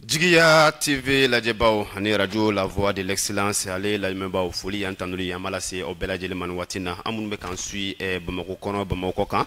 jigiya tv lajɛbaw ani radio la voix de l'excellence ale lamɛnbaaw foli y'an tanuli an b'a lase aw bɛɛ lajɛlen ma nin waati na an minnu bɛ k'an suit eh, bamakɔ kɔnɔ bamakɔ kɔkan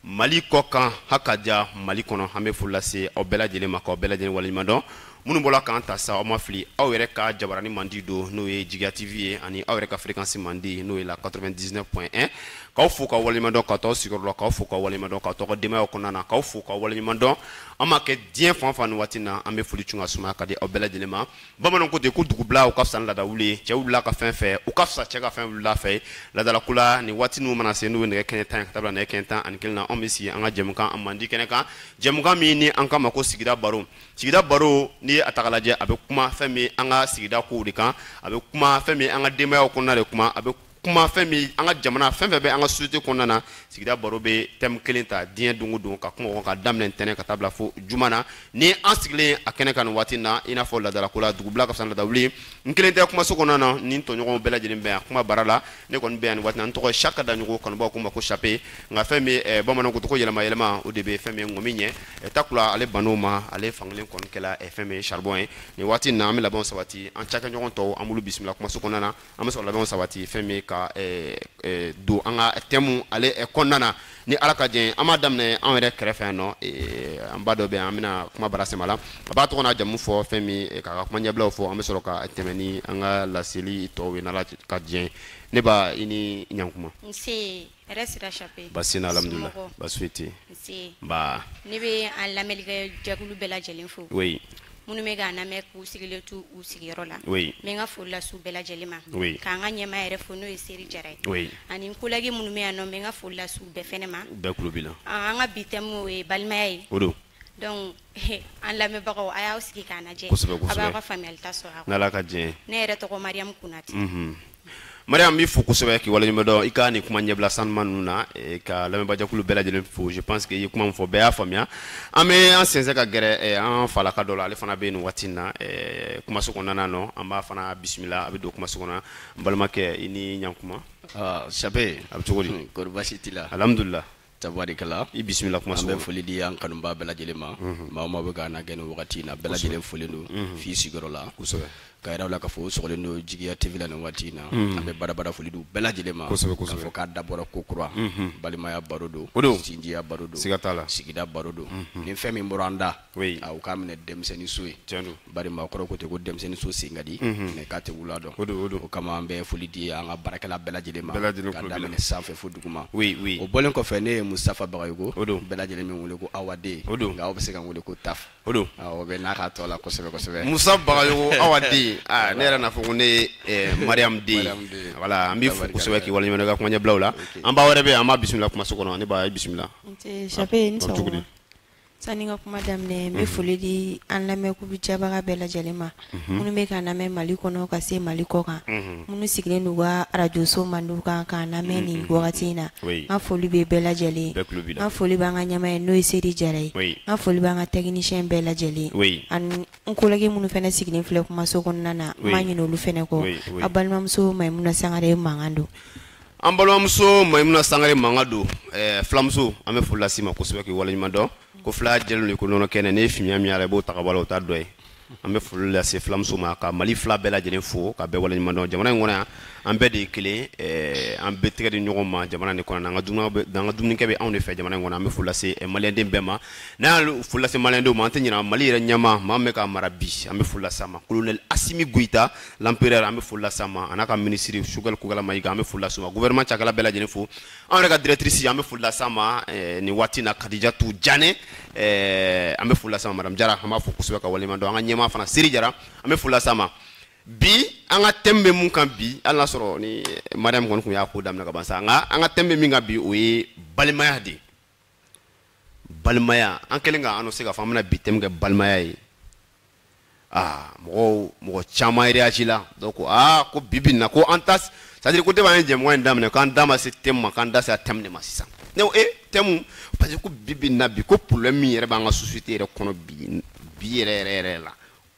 mali kɔkan ha ka ja mali kɔnɔ an bɛ foli lase aw bɛɛ lajɛlen ma k'aw bɛɛ lajɛlen waleɲuman dɔn minnu bɔra k'an ta sa aw ma fili aw yɛrɛ ka jabarani mandi don n'o ye jigiya tv ye ani aw yɛrɛ ka fréquence mandi n'o ye la 99.1 k'aw fo k'aw waleɲuman dɔn ka t'aw sigiyɔrɔ la k'aw fo k'aw waleɲuman dɔn ka t'aw ka denbayaw kɔnɔna na k'aw fo k'aw waleɲuman dɔn an m'a kɛ diɲɛ fan fan nin waati na an bɛ foli cun ka sumaya ka di aw bɛɛ lajɛlen ma bamananw ko ten ko dugubila o ka fisa ni laadawuli ye cɛ wulila ka fɛn fɛ o ka fisa cɛ ka fɛn wulila fɛ ye laadalako la nin waati ninnu mana se n'o ye nɛgɛ kɛɲɛ tan ye ka taa bila nɛgɛ kɛɲɛ tan ani kelen na anw bɛ sigi an ka jɛmukan a mandi kɛnɛ kan jɛmukan min ni an k'a ma ko sigida baro sigida baro n'i ye a ta k'a lajɛ a bɛ kuma fɛn min an ka sigida kow de kan a bɛ kuma fɛn min an ka denbayaw kɔnɔna de kuma a bɛ kuma fɛn min an ka jamana fɛn fɛn bɛ an ka société kɔnɔna na sigida baro bɛ thème kelen ta diɲɛ don o don ka kuma o kan ka daminɛ ntɛnɛn ka taa bila fo juma na ni an sigilen a kɛnɛ kan nin waati na i n'a fɔ laadalako la dugubila ka fisa ni laadawuli n kelen tɛ kumaso kɔnɔna na ni n tɔɲɔgɔnw bɛɛ lajɛlen bɛ yan kuma bara la ne kɔni bɛ yan nin waati na n tɔgɔ ye saka daɲogo kanubaw ko n ma ko chape nka fɛn min eh, bamananw ko tɔgɔ yɛlɛma yɛlɛma o de bɛ fɛn min ŋɔmi ɲɛ eh, takula ale bann'o ma ale fankelen kɔni kɛla eh, fɛn min charbon ye nin waati na an bɛ labɛnw sabati an cakɛɲɔgɔn tɔw an b'olu bisimila kumaso kɔnɔna na an bɛ sɔrɔ labɛnw sabati fɛn min ka don an ka thème ale kɔnɔna na ni ala ka jɛn an b'a daminɛ an yɛrɛ kɛrɛfɛ yan nɔ an ba dɔ bɛ yan an bɛna kuma bara sɛm'a la a b'a tɔgɔ n'a jamu fɔ fɛn min k'a ka kuma ɲɛbilaw fɔ an bɛ sɔrɔ ka tɛmɛ ni an ka laseli tɔw ye n'ala ka jɛn ne ba i ni ɲankuma Hɛrɛ sira Chape? Basi tɛ yen alihamidulilayi, somɔgɔw? Basi foyi tɛ yen. Nse! Nba! Ne bɛ an lamɛnnikɛ jɛkulu bɛɛ lajɛlen fo. Oui! Minnu bɛ k'an lamɛn k'u sigilen to u sigiyɔrɔ la. Oui! N bɛ n ka foli lase u bɛɛ lajɛlen ma. Oui! K'an ka ɲɛmaa yɛrɛ fo n'o ye Seri Jara ye. Oui! Ani n kolɛgi minnu bɛ yan nɔ, n bɛ n ka foli lase u bɛɛ fɛnɛ ma. U bɛɛ tulo b'i la. Ɔɔ, an ka bi thème o ye balimaya ye. O don! donc an lamɛnbagaw a y'aw sigi k'an lajɛ a b'aw ka faamuyali ta sɔrɔ a kɔnɔ n'ala ka jɛn ne yɛrɛ tɔgɔ mariyamu kunate mhm. mariyamu b'i fo kosɛbɛ k'i waleɲuman dɔn i ka nin kuma ɲɛbila sanuma ninnu na eh, ka lamɛnbajakulu bɛɛ lajɛlen fo je pense que i ye kuma min fɔ bɛɛ y'a faamuya an bɛ an sɛnsɛn ka gɛrɛ eh, an falaka dɔ la ale fana bɛ nin waati in na eh, kumaso kɔnɔna nɔ an b'a fana bisimila a bɛ don kumaso kɔnɔ n balimakɛ i ni ɲankuma ah, chape a bɛ cogo di kɔri baasi t'i la alhamdulila tabarikala i bisimila kumaso an bɛ foli di an kanubaa bɛɛ lajɛlen ma maa o maa bɛ k'an lajɛ nin wagati in na bɛɛ lajɛlen folen don f'i sigiyɔrɔ la k'a yira u la k'a fɔ sogolen don jigiya tv la nin waati in na an bɛ badabada foli di bɛɛ lajɛlen ma k'a fɔ k'a dabɔra ko kura balimaya baro don o don sinjiya baro don siga t'a la sigida baro don ni fɛn min bɔra an da oui a u k'a minɛ denmisɛnnin so ye tiɲɛ don bari maakɔrɔ ko ten ko denmisɛnnin so sen ka di mais k'a tɛ wula dɔn o don o don o kama an bɛ foli di an ka baarakɛla bɛɛ lajɛlen ma bɛɛ lajɛlen ka daminɛ sanfɛ fo duguma oui oui o bɔlen kɔfɛ ne ye Mustafa Bagayogo o don bɛɛ lajɛlen bɛ n wele ko Awaden o don nka aw bɛ se ka n wele ko Taf o don o bɛ n'a ka tɔ la kosɛbɛ kosɛbɛ Mustafa Bagayogo Awaden aa ne yɛrɛ n'a fɔ ko ne ye eh, Mariam den voilà an b'i fo kosɛbɛ k'i waleɲuman dɔn i ka kuma ɲɛbilaw la an ba wɛrɛ bɛ yen an b'a bisimila kumaso kɔnɔ ne ba ye bisimila Nse Chape i ni sɔgɔma. Sani n ka kuma daminɛ n bɛ foli di an lamɛnkulu jɛbaga bɛɛ lajɛlen ma minnu bɛ k'an lamɛn Mali kɔnɔ ka se Mali kɔkan minnu sigilen don u ka arajoso mandiw kan k'an lamɛn nin wagati in na n ka foli bɛ bɛɛ lajɛlen ye n ka foli b'an ka ɲɛmaa ye n'o ye Seri Jara ye n ka foli b'an ka technicien bɛɛ lajɛlen ye ani n collègue minnu fɛnɛ sigilen filɛ kumaso kɔnɔna na n ma ɲinɛ olu fɛnɛ kɔ a balimamuso Mayimuna Sangare mankan don an balimamuso mayimuna sangare mankan don eh, filamuso an bɛ foli lase i ma kosɛbɛ k'i waleɲuman dɔn ko fila jɛlen don ko nɔnɔ kɛnɛ n'i ye fimiya min y'a la i b'o ta ka bɔ a la o t'a dɔ ye an bɛ foli lase filamuso ma ka mali fila bɛɛ lajɛlen fo ka bɛɛ waleɲuman dɔn jamana in kɔnɔ yan an bɛɛ de ye kelen eh, an bɛɛ tɛgɛ di ɲɔgɔn ma jamana nin kɔnɔ an ka dumuniw bɛ- an ka dumunikɛ bɛ anw de fɛ jamana in kɔnɔ an bɛ foli lase eh, maliyɛnden bɛɛ ma n'an ye foli lase maliyɛndenw ma an tɛ ɲinɛ mali yɛrɛ ɲɛmaa maa min bɛ k'a mara bi an bɛ foli lase a ma kolonɛli asimi goyita l'empereur an bɛ foli lase a ma a n'a ka minisiri sogɛli kokala mayiga an bɛ foli lase o ma gouvernement cakɛla bɛɛ lajɛlen fo an yɛrɛ ka directrice an bɛ foli lase a ma eh, nin waati na kadijatu jane eh, an bɛ foli lase a ma madame jara an b'a fo kosɛbɛ k'a waleɲuman dɔn an ka ɲɛmaa fana seri jara an bɛ foli lase a ma bi an ka thème bɛ mun kan bi hali n'a sɔrɔ ni mariam kɔni tun y'a ko daminɛ ka ban sa nka an ka thème bɛ min kan bi o ye balimaya de ye balimaya an kɛlen ka annoncer k'a fɔ an bɛna bi thème kɛ balimaya ye aa mɔgɔw mɔgɔ caman réagi la dɔw ko aa ko bi bi in na ko an ta c'est-à-dire ko depuis an ye jɛmukan in daminɛ k'an da ma se thème ma k'an da sera thème de ma sisan ne ko e thème parce que ko bi bi in na bi ko problème min yɛrɛ b'an ka société yɛrɛ kɔnɔ bi bi yɛrɛ yɛrɛ yɛrɛ la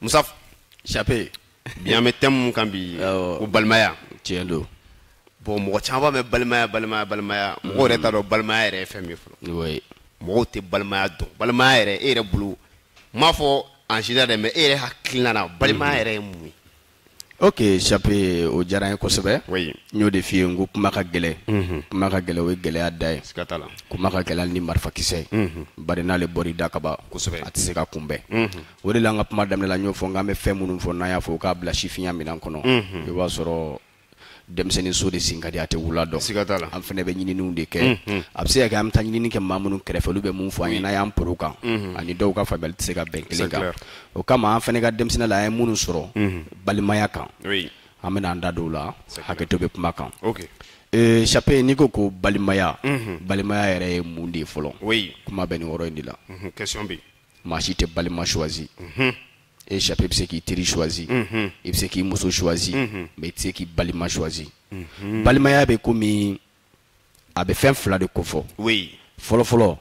mustafa chape bi an bɛ thème mun kan bi ko balimaya tiɲɛ don bon mɔgɔ caman b'a mɛn balimaya balimaya balimaya mɔgɔ yɛrɛ t'a dɔn balimaya yɛrɛ ye fɛn min fɔlɔ mɔgɔw tɛ balimaya dɔn balimaya yɛrɛ e yɛrɛ bolo n m'a fɔ en général dɛ mais e yɛrɛ hakilina na balimaya yɛrɛ ye mun ye ok chape o diyara n ye kosɛbɛ oui. n y'o de f'i ye n ko kuma ka gɛlɛ mm -hmm. kuma ka gɛlɛ o ye gɛlɛya da ye kuma ka gɛlɛ ni marifakisɛ ye mm -hmm. bari n'ale bɔr'i da ka ban kosɛbɛ a tɛ se ka kunbɛn mm -hmm. o de la an ka kuma daminɛ la n y'o fɔ n k'an bɛ fɛn minnu fɔ n'an y'a fɔ k'a bila sifinya minan kɔnɔ mm -hmm. i b'a sɔrɔ denmisɛnnin so de sen ka di a tɛ wula dɔn siga t'a la an fana bɛ ɲininiw de kɛ mhm. a bɛ se ka kɛ an bɛ taa ɲinini kɛ maa minnu kɛrɛfɛ olu bɛ mun fɔ an ye n'an y'an poro kan mhm. ani dɔw ka faamuyali tɛ se ka bɛn kelen kan o kama an fana ka denmisɛnninya la an ye minnu sɔrɔ mhm. balimaya kan an bɛna an da don o la hakɛto bɛ kuma kan eh, Chape n'i ko ko balimaya balimaya yɛrɛ ye mun de ye fɔlɔ kuma bɛ nin yɔrɔ in de la maa si tɛ balima choisi e Chape bɛ se k'i teri choisi mhm. i bɛ se k'i muso choisi mhm. mais i tɛ se k'i balima choisi mhm. balimaya bɛ komi a bɛ fɛn fila de kofɔ fɔlɔfɔlɔ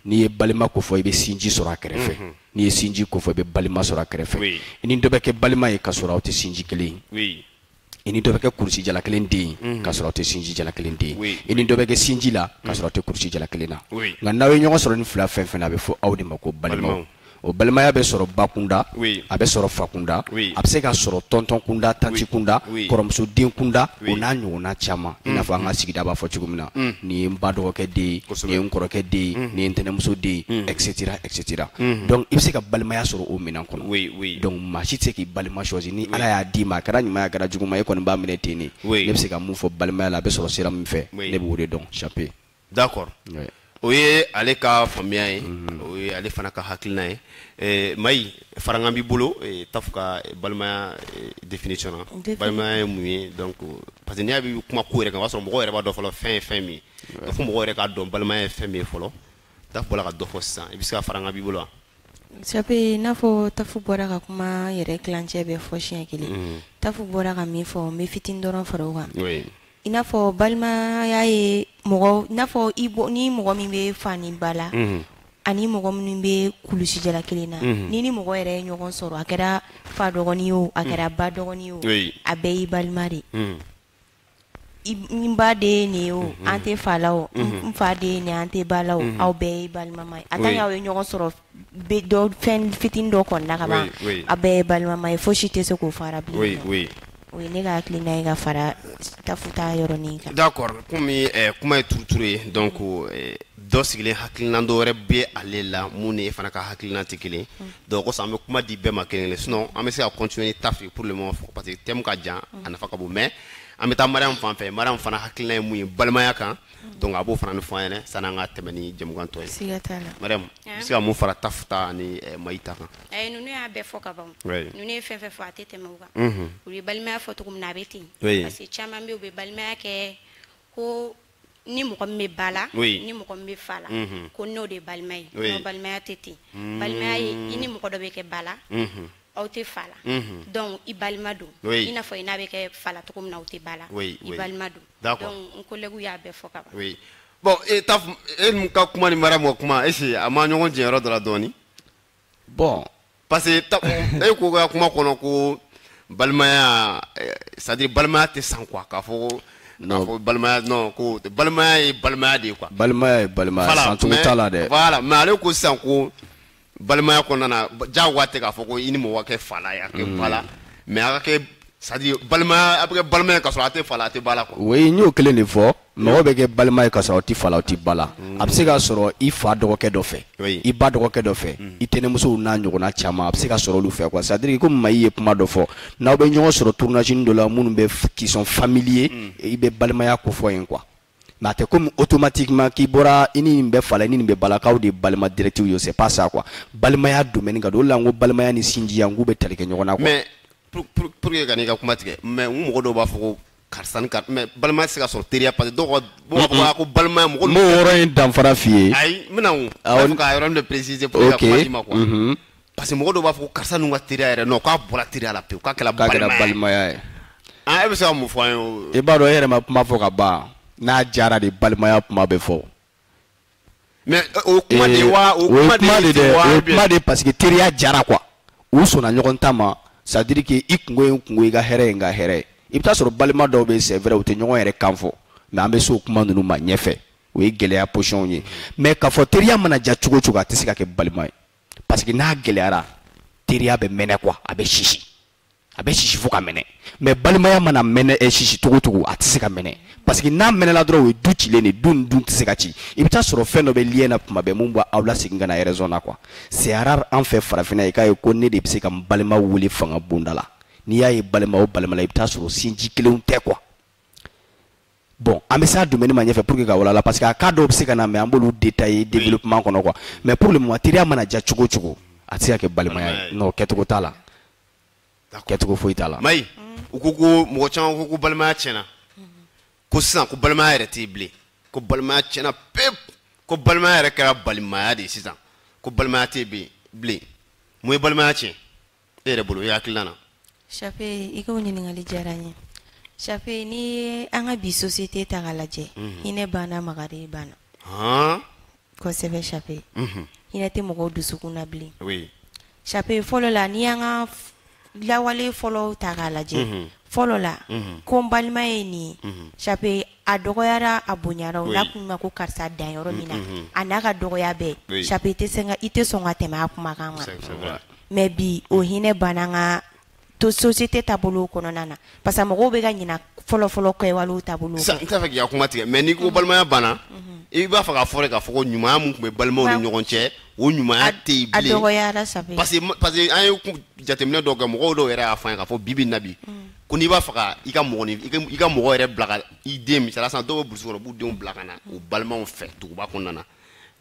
n'i ye balima kofɔ i bɛ sinji sɔrɔ a kɛrɛfɛ n'i ye sinji kofɔ i bɛ balima sɔrɔ a kɛrɛfɛ i ni dɔ bɛ kɛ balima ye ka sɔrɔ aw tɛ sinji kelen ye i ni dɔ bɛ kɛ kurusi jala kelen den ye k'a sɔrɔ aw tɛ sinji jala kelen den ye i ni dɔ bɛ kɛ sinji la k'a sɔrɔ aw tɛ kurusi jala kelen na nka n'aw ye ɲɔgɔn sɔrɔ nin fila fɛn fɛn na a bɛ fɔ aw de ma ko balimaw o balimaya bɛ sɔrɔ bakunda a bɛ sɔrɔ fakunda a bɛ se ka sɔrɔ tɔntɔn kunda tanti kunda kɔrɔmuso den kunda o n'a ɲɔgɔnna caman i n'a fɔ an ka sigida b'a fɔ cogo min na nin ye n ba dɔgɔkɛ den ye nin ye n kɔrɔkɛ den ye nin ye n tɛnɛnmuso den ye etc etc unhun donc i bɛ se ka balimaya sɔrɔ o minɛn kɔnɔ oui oui donc maa si tɛ se k'i balima choisi ni Ala y'a d'i ma a kɛra ɲuman ye a kɛra juguman ye e kɔni b'a minɛ ten de oui ne bɛ se ka mun fɔ balimaya la a bɛ sɔrɔ sira min fɛ oui ne b'o de dɔn Chape d'accord oui o ye ale ka faamuya ye mhm. o ye ale fana ka hakilina ye eh, Mayi farankan b'i bolo eh, Tafu ka eh, balimaya eh, définition na balimaya ye mun ye donc parce que ni an bɛ kuma ko yɛrɛ kan o b'a sɔrɔ mɔgɔw yɛrɛ b'a dɔn fɔlɔ fɛn ye fɛn min ye fo mɔgɔw yɛrɛ k'a dɔn balimaya ye fɛn min ye fɔlɔ tafu bɔra ka dɔ fɔ sisan i bɛ se ka farankan b'i bolo wa Chape i n'a fɔ tafu bɔra ka kuma yɛrɛ tilancɛ bɛɛ fɔ siɲɛ kelen mm. tafu bɔra ka min fɔ n bɛ fitini dɔrɔn fara o kan i n'a fɔ balimaya ye mɔgɔ i n'a fɔ i bɔ ni mɔgɔ min bɛ fa ni ba la mm-hmm. ani mɔgɔ minnu bɛ kulusi jala kelen na mm-hmm. n'i ni mɔgɔ yɛrɛ ye ɲɔgɔn sɔrɔ a kɛra fa dɔgɔnin ye o a kɛra mm. ba dɔgɔnin ye o a bɛɛ y'i balima de mm. N ba de ye nin ye o an tɛ fa la o n fa de ye nin an tɛ ba la o aw bɛɛ ye balimama ye en tant que aw ye ɲɔgɔn sɔrɔ fɛn fitinin dɔ kɔnɔna ka ban a bɛɛ ye balimama ye fosi tɛ se k'o fara bilen o ye ne ka hakilina ye ka fara Tafu ta yɔrɔnin kan d'accord komi kuma ye turuturu ye donc dɔ sigilen hakilina dɔ wɛrɛ bɛ ale la min ni e fana ka hakilina tɛ kelen donc o kosɔn an bɛ kuma di bɛɛ ma kelen kelen sinon an bɛ se ka continuer ni tafu ye pour le moment parce que thème ka jan a nafa ka bon mais an bɛ taa mariam fan fɛ mariam fana hakilina ye mun ye balimaya kan donc a b'o fana ɲɛfɔ an ɲɛna sanni an ka tɛmɛ ni jɛmukan tɔ ye siga t'a la mariam i bɛ se ka mun fara tafu ta ani eh, mayi ta kan ayi ninnu y'a bɛɛ fɔ ka ban Oui. ninnu ye fɛn fɛn fɔ a tɛ tɛmɛ o kan Mhm. u ye balimaya fɔ cogo min na a bɛ ten Oui. parce que caman bɛ yen u bɛ balimaya kɛ ko ni mɔgɔ min bɛ ba la ni mɔgɔ min bɛ fa la ko n'o de ye balima ye n'o balimaya tɛ ten mm. balimaya ye i ni mɔgɔ dɔ bɛ kɛ ba la mm-hmm. aw tɛ fa la mm-hmm. donc i balima don i n'a fɔ i n'a bɛ kɛ fa la cogo min na aw tɛ ba la i balima don donc n collègue y'a bɛɛ fɔ ka ban bon Tafu e mun ka kuma ni Mariam ka kuma est ce que a ma ɲɔgɔn jɛ yɔrɔ dɔ la dɔɔni bon parce que e ko ka kuma kɔnɔ ko balimaya eh, c'est à dire balimaya tɛ san quoi k'a fɔ ko balimaya non ko balimaya ye balimaya de ye quoi balimaya ye balimaya san cogo t'a la dɛ voilà mais ale ko sisan ko balimaya kɔnɔna na diyagoya tɛ k'a fɔ ko i ni mɔgɔ ka kɛ fa la a kɛ mm. ba la mais a ka kɛ c'est à dire balimaya a bɛ kɛ balimaya ka sɔrɔ a tɛ fa la a tɛ ba la quoi oui n y'o kelen de fɔ mɔgɔ bɛ kɛ balima ye ka sɔrɔ aw tɛ fa la aw tɛ ba la a bɛ se ka sɔrɔ i fa dɔgɔkɛ dɔ fɛ i ba dɔgɔkɛ dɔ fɛ i tɛnɛnmusow n'a ɲɔgɔnna caman a bɛ se ka sɔrɔ olu fɛ quoi c'est à dire komi Mayi ye kuma dɔ fɔ n'aw bɛ ɲɔgɔn sɔrɔ tournage dɔ la minnu bɛ qui sont familiers i bɛ balimaya ko fɔ yen quoi mais a tɛ komi automatiquement k'i bɔra i ni nin bɛ fa la i ni nin bɛ ba la k'aw de ye balima direct ye c'est pas ça quoi balimaya domaine ka dun o de la n ko balimaya ni sinjiya n k'u bɛ tali kɛ ɲɔgɔn na quoi mais pour pour pour que ka n'i ka kuma tigɛ mais n ko mɔgɔ dɔw b'a fɔ ko karisa ni karisa mais balimaya tɛ se ka sɔrɔ teriya parce que dɔw ka dɔw b'a fɔ ko balimaya mɔgɔ n b'o yɔrɔ in danfara f'i ye ayi n bɛna o awɔ fo ka yɔrɔnin dɔ préciser pour que ka kuma d'i ma quoi mhm. parce que mɔgɔ dɔw b'a fɔ ko karisa ninnu ka teriya yɛrɛ non k'a bɔra teriya la pewu k'a kɛra k'a kɛra balimaya ye an ah, e bɛ se ka mun fɔ an ye o i b'a dɔn e yɛrɛ ma kuma fɔ ka ban n'a diyara de balimaya kuma bɛ fɔ mais euh, o kuma de wa o kuma de de wa o kuma de parce que teriya diyara quoi u sɔnna ɲɔgɔn ta ma c'est à dire que i kunko ye n kunko i ka hɛrɛ ye n ka hɛrɛ ye i bɛ taa sɔrɔ balima dɔw bɛ c'est vrai u tɛ ɲɔgɔn yɛrɛ kan fɔ mais an bɛ se o kuma ninnu ma ɲɛfɛ o ye gɛlɛya position ye mais k'a fɔ teriya mana diya cogo cogo a tɛ se ka kɛ balima ye parce que n'a gɛlɛyara teriya bɛ mɛnɛ quoi a bɛ sisi a bɛ sisi fo ka mɛnɛ mais balimaya mana mɛnɛ ɛ eh, sisi cogo cogo a tɛ se ka mɛnɛ parce que n'a mɛnɛla dɔrɔn o ye du cilen de du nin dun tɛ se ka ci i bɛ taa sɔrɔ fɛn dɔ bɛ lien na kuma bɛɛ mun b'a aw lasegin ka na raison na quoi c'est rare an fɛ farafinna i k'a ye ko ne de bɛ se ka n balima wele fanga bonda la n'i y'a ye balima o balima la i bɛ taa sɔrɔ sinji kelenw tɛ quoi bon an bɛ s'a domaine ma ɲɛfɛ pour que ka walala parce que a cas dɔw bɛ se ka na mais an b'olu détailler développement kɔnɔ quoi mais pour le moment teriya mana diya cogo cogo a tɛ se ka kɛ balimaya ye non kɛcogo t'a la kɛcogo foyi t'a la. Mayi u ko ko mɔgɔ caman ko ko balimaya tiɲɛna ko sisan ko balimaya yɛrɛ tɛ yen bilen ko balimaya tiɲɛna pewu ko balimaya yɛrɛ kɛra balimaya de ye sisan ko balimaya tɛ yen bilen mun ye balimaya tiɲɛ. e yɛrɛ bolo i hakilina na Chape i ka o ɲininkali diyara n ye Chape n'i ye an ka bi société ta k'a lajɛ mhm. hinɛ banna makari banna kosɛbɛ Chape mhm. hinɛ tɛ mɔgɔw dusukun na bilen Chape fɔlɔ la n'i y'an ka lawale fɔlɔw ta k'a lajɛ mhm. fɔlɔ la ko n balima ye nin ye Chape a dɔgɔyara a bonyara o la tun ma ko karisa dan yɔrɔ min na a n'a ka dɔgɔya bɛɛ Chape i tɛ sɔn ka tɛmɛ a kuma kan mais bi o hinɛ banna an ka société taabolo kɔnɔna na parce que mɔgɔw bɛ ka ɲina fɔlɔfɔlɔ kɔ taabolo n t'a fɛ k'i ka kuma tigɛ mais n'i ko balimaya banna i b'a fɛ k'a fɔ k'a fɔ ko ɲumanya min tun bɛ balimaw ni ɲɔgɔn cɛ o ɲumanya tɛ yen parce que an ye jateminɛ dɔw kɛ mɔgɔ dɔw yɛrɛ y'a fɔ an ye k'a fɔ bi bi in na bi ko n'i b'a fɛ ka i ka mɔgɔ i ka mɔgɔ yɛrɛ bila ka i den misali la sisan dɔw bɛ burusi kɔnɔ u b'u denw bila ka na u balimaw fɛ duguba kɔnɔna na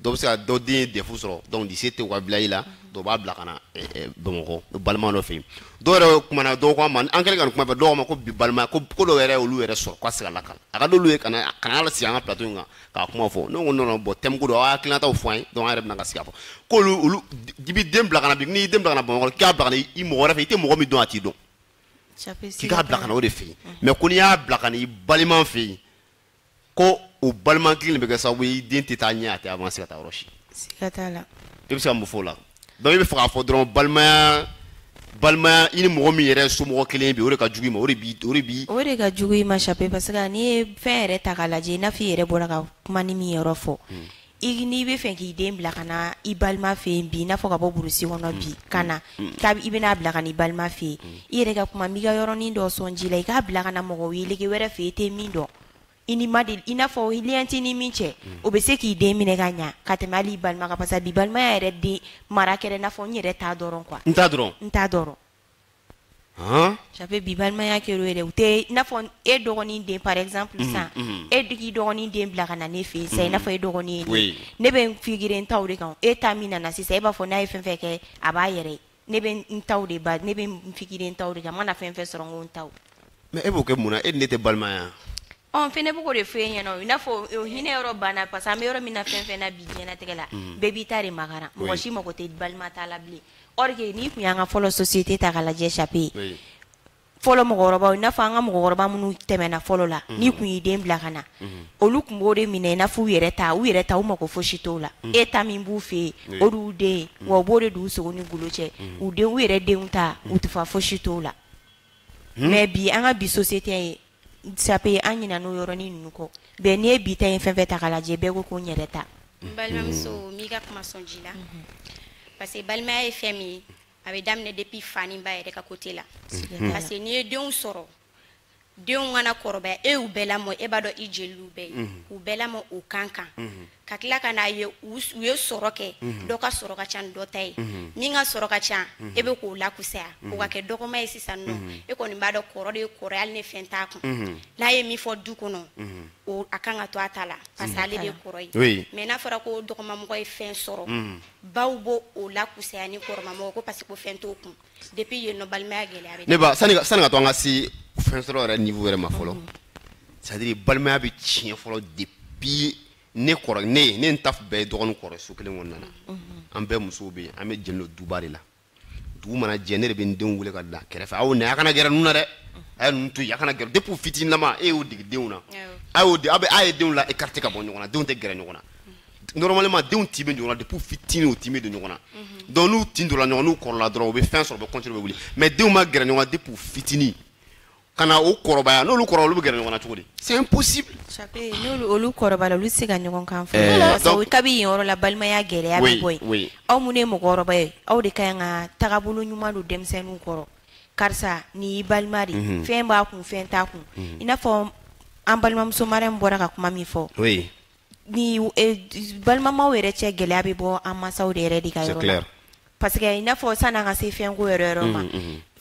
dɔw bɛ se ka dɔ den ye DEF sɔrɔ donc lycée tɛ u ka village la dɔw b'a bila ka na eh, eh, bamakɔ balima dɔ fɛ yen dɔw yɛrɛ kumana dɔw ko an ma an kɛlen ka nin kuma fɔ dɔw ma ko bi balimaya ko ko dɔw yɛrɛ olu yɛrɛ sɔrɔ k'a sigala kan a ka d'olu ye ka na ka na ala sigi an ka plateau in kan k'a kuma fɔ ne ko non bon thème ko don aw hakilinataw fɔ an ye donc an yɛrɛ bɛna ka sigi a fɔ k'olu olu i bɛ den bila ka na bi n'i y'i den bila ka na bamakɔ k'a bila ka na i mɔgɔ wɛrɛ fɛ i tɛ mɔgɔ min dɔn a t'i dɔn k'i k'a bila ka na o de fɛ yen mais ko n'i y'a bila ka na i balima fɛ yen ko o balima kelen bɛ kɛ sababu ye i den tɛ taa ɲɛ a tɛ avancer ka taa yɔrɔ si siga t'a la i bɛ se ka mun fɔ o la donc i bɛ fɛ k'a fɔ dɔrɔn balimaya balimaya i ni mɔgɔ min yɛrɛ somɔgɔ kelen bɛ o de ka jugu i ma o de bi o de bi o de ka jugu i ma Chape parce que n'i ye fɛn yɛrɛ ta k'a lajɛ i n'a fɔ i yɛrɛ bɔra ka kuma ni min yɔrɔ fɔ i n'i bɛ fɛ k'i den bila ka na i balima fɛ yen bi i n'a fɔ ka bɔ burusi kɔnɔ bi ka na i bɛna a bila ka na i balima fɛ yen i yɛrɛ ka kuma n b'i ka yɔrɔnin dɔ sɔn ji la i k'a bila ka na mɔgɔ wele wɛrɛ fɛ i tɛ min dɔn i n'a fɔ lien t'i ni min cɛ o bɛ se k'i den minɛ ka ɲɛ ka tɛmɛ hali i balima kan parce que bi balimaya yɛrɛ den mara kɛra i n'a fɔ n yɛrɛ ta dɔrɔn quoi n ta dɔrɔn n ta dɔrɔn Chape bi balimaya kɛra o yɛrɛ u tɛ i n'a fɔ e dɔgɔnin den par exemple sisan e k'i dɔgɔnin den bila ka na ne fɛ yen sisan i n'a fɔ e dɔgɔnin ye ne bɛ n figure n ta de kan e ta min nana sisan e b'a fɔ n'a ye fɛn fɛn kɛ a b'a yɛrɛ ye ne bɛ n ta de ne bɛ n figure n ta de kan n mana fɛn fɛn sɔrɔ n ko n ta mais e b'o kɛ mun na e ni ne tɛ balimaya ɔ fɛnɛ b'o de fɔ e ɲɛna i n'a fɔ hinɛ yɔrɔ banna parce que an bɛ yɔrɔ min na fɛn fɛn na bi diɲɛlatigɛ la bɛɛ b'i ta de makaran mɔgɔ si mako tɛ balima ta la bilen Or que n'i tun y'an ka fɔlɔ société ta k'a lajɛ Chape, oui, fɔlɔ mɔgɔkɔrɔbaw i n'a fɔ an ka mɔgɔkɔrɔba minnu tɛmɛna fɔlɔ la, unhun, n'i tun y'i den bila ka na, unhun, olu tun b'o de minɛ i n'a fɔ u yɛrɛ ta, u yɛrɛ ta u mako fosi t'o la, unhun, e ta min b'u fɛ yen, oui, o de y'u den ye, unhun, wa u b'o de don u sogo ni golo cɛ, unhun, u denw, u yɛrɛ denw ta, unhun, u tɛ fa fosi t'o la, unhun, mais bi an ka bi société Chape an ɲinana o yɔrɔnin ninnu kɔ bɛɛ n'i ye bi ta ye fɛn fɛn ta k'a lajɛ bɛɛ ko ko n yɛrɛ ta n balimamuso n b'i ka kuma sɔn ji la parce que balimaya ye fɛn min ye a bɛ daminɛ depuis fa ni ba yɛrɛ ka côté la parce que n'i ye denw sɔrɔ denw ka na kɔrɔbaya e y'u bɛɛ lamɔ e b'a dɔn i jeliw bɛɛ ye u bɛɛ lamɔ u ka kan ka tila ka n'a ye u ye sɔrɔ kɛ mhm. dɔ ka sɔrɔ ka ca ni dɔ ta ye mhm. min ka sɔrɔ ka ca mhm. e bɛ k'o lakusaya o ka kɛ dɔgɔma ye sisan nɔ e kɔni b'a dɔn kɔrɔ de ye kɔrɔ hali ni fɛn t'a kun n'a ye min fɔ du kɔnɔ a kan ka to a ta la parce que ale de ye kɔrɔ ye mais n'a fɔra ko dɔgɔmamɔgɔ ye fɛn sɔrɔ baw b'o o lakusaya ni kɔrɔmamɔgɔ ko parce que ko fɛn t'o kun depuis yen nɔ balimaya gɛlɛya bɛ ne ba sani ka sani ka to an ka se fɛn sɔrɔ yɛrɛ niveau yɛrɛ ma fɔlɔ c'est à dire balimaya bɛ tiɲɛ fɔlɔ depuis ne kɔrɔ ne ye ne n ta bɛɛ ye dɔgɔnin kɔrɔ so kelen kɔnɔna na an bɛɛ musow bɛ yen an bɛɛ jɛlen don duba de la dugu mana jɛ ne de bɛ n denw wele ka bila kɛrɛfɛ aw na a kana gɛrɛ ninnu na dɛ a ye ninnu to yen a kana gɛrɛ depuis u fitininama e y'o dege denw na a y'o de aw bɛ a ye denw la écarté ka bɔ ɲɔgɔn na denw tɛ gɛrɛ ɲɔgɔn na normalement denw tin bɛ ɲɔgɔn na depuis fitinin u tin bɛ don ɲɔgɔn na donc n'u tin donna ɲɔgɔn n'u kɔrɔla dɔrɔn u bɛ fɛn sɔrɔ u bɛ continuer u bɛ wuli mais denw ma gɛrɛ ɲɔgɔn na depuis u fitinin ka na o kɔrɔbaya n'olu kɔrɔ olu bɛ gɛrɛ ɲɔgɔn na cogo di c'est impossible Chape, n'olu olu kɔrɔbaya la olu tɛ se ka ɲɔgɔn kan fɔ Eh, Parce que donc- kabi yen yɔrɔ la balimaya gɛlɛya bɛ Oui, bɔ yen oui. aw minnu ye mɔgɔkɔrɔba ye aw de ka ɲi ka tagabolo ɲuman don denmisɛnninw kɔrɔ karisa nin y'i balima de ye. Mhm. fɛn b'a kun fɛn t'a kun Mhm. i n'a fɔ an balimamuso Mariam bɔra ka kuma min fɔ oui Ni balimamaw yɛrɛ cɛ gɛlɛya bɛ bɔ an masaw de yɛrɛ de ka yɔrɔ la parce que i n'a fɔ san'an ka se fɛnko yɛrɛ yɔrɔ ma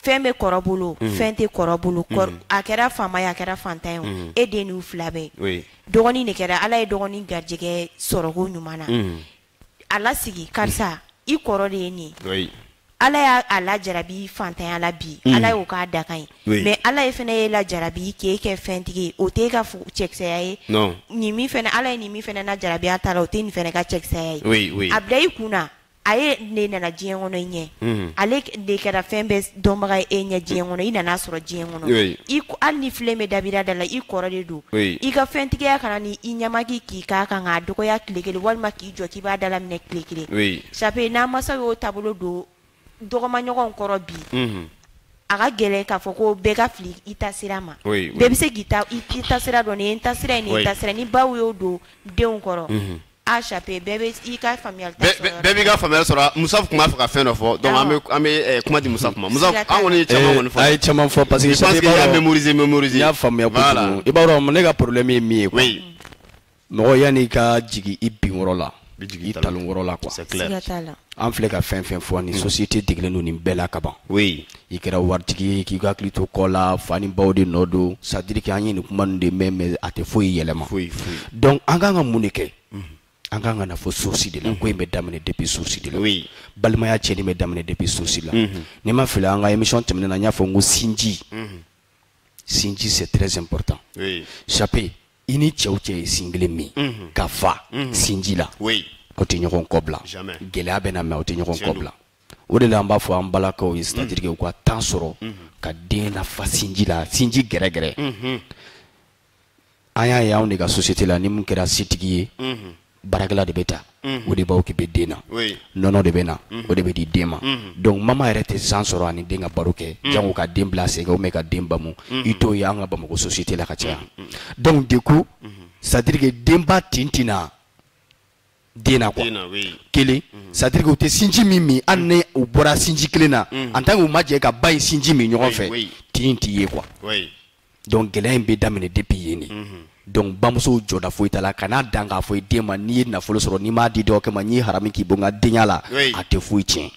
fɛn bɛ kɔrɔ bolo fɛn tɛ kɔrɔ bolo a kɛra faama ye a kɛra fantan ye e den ninw fila bɛɛ dɔgɔnin de kɛra ala ye dɔgɔnin garijɛgɛ sɔrɔko ɲuman na a lasigi karisa i kɔrɔ de ye nin ye ala y'a lajarabi fantanya la bi mm. ala y'o k'a dakan ye mais ala y'e fɛnɛ ye lajarabi k'e kɛ fɛntigi o tɛ e ka cɛkisɛya ye nin min fɛnɛ ala ye nin min fɛnɛ lajarabi a ta la o tɛ nin fɛnɛ ka cɛkisɛya ye a bila i kun na a yɛrɛ nana diɲɛ kɔnɔ i ɲɛ mm. ale de kɛra fɛn bɛɛ dɔnbaga ye e ɲɛ diɲɛ kɔnɔ i nan'a sɔrɔ diɲɛ kɔnɔ oui. hali ni filen bɛ dabira da la i kɔrɔ de don oui. i ka fɛntigiya kana ni i ɲɛ ma k'i k'i ka kan k'a dɔgɔya tile kelen walima k'i jɔ k'i b'a dalaminɛ tile kelen oui. Chape n'an masaw y'o taabolo don dɔgɔmaɲɔgɔnw kɔrɔ bi mm -hmm. a ka gɛlɛn k'a fɔ ko bɛɛ ka fili i ta sira ma oui, oui. bɛɛ bɛ se k'i ta sira dɔn nin ye n ta sira ye nin ye n ta sira ni baw y'o don denw kɔrɔ mm -hmm. A Chape bɛɛ bɛ i ka faamuyali ta sɔrɔ yɔrɔ bɛɛ b'i ka faamuyali sɔrɔ Musa tun b'a fɛ ka fɛn dɔ fɔ donc an bɛ an bɛ ɛ kuma di Musa ma Musa an kɔni ye caman kɔni fɔ a ye caman fɔ parce que je pense que i y'a mémoriser mémoriser n y'a faamuya kojugu i b'a dɔn ne ka problème ye min ye quoi mɔgɔ yan'i ka jigi i binyɔrɔ la i talonyɔrɔ la quoi siga t'a la an filɛ ka fɛn fɛn fɔ nin société degelen don nin bɛɛ la kaban oui i kɛra waritigi ye k'i hakili to kɔ la fa ni baw de nɔ don c'est à dire que an ye nin kuma ninnu de mɛn mais a tɛ foyi yɛlɛma donc an kan ka mun de kɛ an kan ka na fo source de la ko in bɛ daminɛ depuis source de la balimaya cɛnni bɛ daminɛ depuis source la ni n ma fili an ka émission tɛmɛnen na n y'a fɔ n ko sinji sinji c'est très important chape i ni cɛ o cɛ ye sin kelen min ka fa sinji la o tɛ ɲɔgɔn kɔ bila gɛlɛya bɛ na mais o tɛ ɲɔgɔn kɔ bila o de la an b'a fɔ an balakaw ye c'est-à-dire u ka temps sɔrɔ ka den nafa sinji la sinji gɛrɛgɛrɛ an y'a ye anw de ka société la ni min kɛra setigi ye baarakɛla de bɛ ta o de bɛ occuper den na nɔnɔ de bɛ na o de bɛ di den ma donc mama yɛrɛ tɛ temps sɔrɔ a ni den ka baro kɛ jango ka den bila sen kan ou bien ka den bamu i t'o ye an ka bamakɔ société la ka caya donc du coup c'est-à-dire que denba tin tɛ na den na quoi kelen mhm. c'est à dire que u tɛ sinji min min hali ni u bɔra sinji kelen na mhm. en tant que u ma jɛ ka ba in sinji min ɲɔgɔn fɛ tin in tɛ yen quoi donc gɛlɛya in bɛ daminɛ depuis yen de mhm. donc bamusow jɔda foyi t'a la kana dan k'a fɔ i den ma n'i ye nafolo sɔrɔ n'i m'a di dɔgɔkɛ ma ne y'i harami k'i bɔ n ka denya la a tɛ foyi tiɲɛ.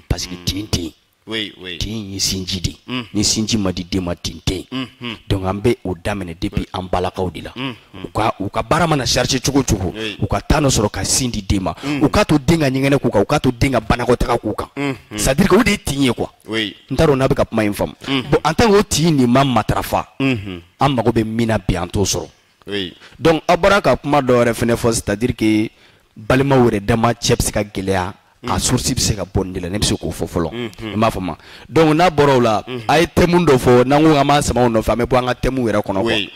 parce que tin tɛ yen oui, oui. tin ye sinji de mm. ni sinji ma di den ma tin tɛ yen mm -hmm. donc an bɛ o daminɛ depuis an balakaw de la mm -hmm. u ka u ka baara mana charger cogo cogo oui. u ka temps dɔ sɔrɔ ka sin di den ma mm. u k'a to den ka ɲɛgɛnɛ k'u kan u k'a to den ka banakɔtaga k'u kan mm -hmm. c'est à dire que o de ye tin ye quoi oui. n t'a dɔn n'a bɛ ka kuma in faamu mm -hmm. bon en tant que o tin nin ma matarafa mm -hmm. an mago bɛ min na bi an t'o sɔrɔ oui. donc a bɔra ka kuma dɔ wɛrɛ fɛnɛ fɔ c'est à dire que balimaw yɛrɛ dama cɛ bɛ se ka gɛlɛya a source bɛ se ka bɔ min de la ne bɛ se k'o fɔ fɔlɔ i m'a faamu donc n'a bɔra o la a ye thème dɔ fɔ n'an ko k'an b'a sama o nɔfɛ an bɛ bɔ an ka thème yɛrɛ kɔnɔ quoi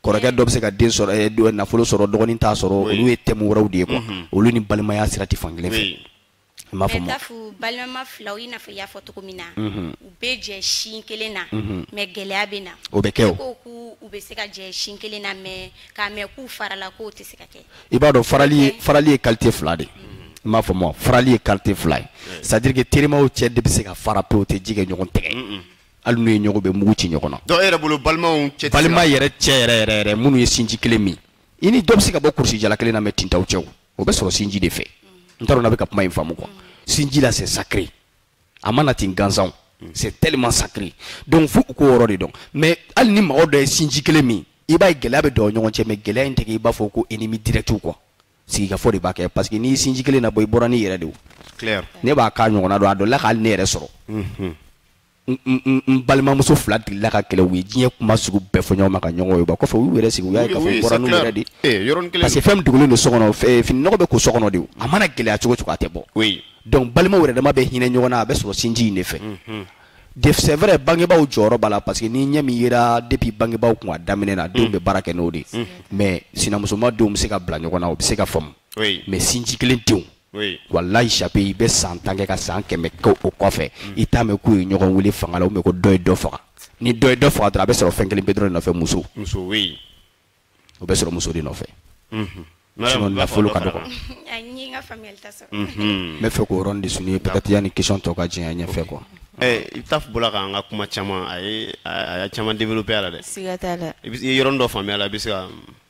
kɔrɔkɛ dɔ bɛ se ka den sɔrɔ eh, do- nafolo sɔrɔ dɔgɔnin t'a sɔrɔ olu ye thème wɛrɛw de ye quoi olu ni balimaya sira tɛ fan kelen fɛ I m'a faamu. Mais balimama filaw i n'a fɔ i y'a fɔ cogo min na. Mhm. U bɛ jɛ sin kelen na. Mhm. mais gɛlɛya bɛ na. o bɛ kɛ o. ko k'u u bɛ se ka jɛ sin kelen na mais k'a mɛn k'u farala k'o tɛ se ka kɛ. i b'a dɔn farali ye farali ye qualité fila de. Mhm. i m'a faamu farali ye qualité fila ye. c'est à dire que terimaw cɛ de bɛ se ka fara pewu u tɛ ji kɛ ɲɔgɔn tɛgɛ. hali n'u ye ɲɔgɔn bɛ mugu ci ɲɔgɔn na. dɔw yɛrɛ bolo balimaw cɛ. balima yɛrɛ cɛ yɛrɛ yɛrɛ yɛrɛ minnu ye sinji kelen min i ni dɔ bɛ se ka bɔ kurusi jala kelen na mais tin t'aw cɛ. o bɛ sɔrɔ sinji de fɛ n t'a dɔn n'a bɛ ka kuma in faamu quoi sinji la c'est sacré a ma na ten gansan c'est tellement sacré donc fo u k'o yɔrɔ de dɔn mais hali ni mɔgɔ dɔ ye sinji kelen min i b'a ye gɛlɛya bɛ dɔw ɲɔgɔn cɛ mais gɛlɛya in tɛ kɛ i b'a fɔ ko ennemi direct quoi sigikafɔ de b'a kɛ parce que n'i ye sinji kelen na bɔ i bɔra n'i yɛrɛ de o clair ne b'a k'a ɲɔgɔnna dɔn a dɔ la k'ale ne yɛrɛ sɔrɔ n balimamuso fila digila ka kɛlɛ u ye diɲɛ kuma sugu bɛɛ fɔ ɲɔgɔn ma ka ɲɔgɔn ye ba kɔfɛ u yɛrɛ sigi u y'a ye k'a fɔ bɔra n'u yɛrɛ de eh, parce que fɛn min dogolen don so kɔnɔ eh, fini nɔgɔ bɛ ko so kɔnɔ de a mana gɛlɛya cogo cogo a tɛ bɔ donc balimaw yɛrɛ dama bɛ hinɛ ɲɔgɔn na a bɛ sɔrɔ sinji in de fɛ mhm. c'est vrai bangebaaw jɔyɔrɔ b'a la parce que ni ɲɛ min yera depuis bangebaaw kun a daminɛ na denw bɛ mhm. baara kɛ n'o de mhm. mais sinamusoma denw bɛ se ka bila ɲɔgɔn na o bɛ se ka faamu mais sinji kelen denw Oui. walayi chape i bɛ san tan kɛ ka san kɛmɛ kɛ o kɔfɛ mm. i t'a mɛn k'u ye ɲɔgɔn wele fanga la ou même ko dɔ ye dɔ faga ni dɔ ye dɔ faga dɔrɔn a bɛ sɔrɔ fɛn kelen pe dɔrɔn de nɔfɛ muso muso oui. o bɛ sɔrɔ muso de nɔfɛ mm-hmm. sinon nafolo ka dɔgɔ n mm-hmm. bɛ fɛ k'o yɔrɔnin de souligner peut-être yanni question tɔ ka jɛn ɲɛfɛ quoi Eh, i bɛ taa bɔra k'an ka kuma caman a ye a y'a caman développé a la dɛ siga t'a la i ye yɔrɔnin dɔ faamuya a la i bɛ se ka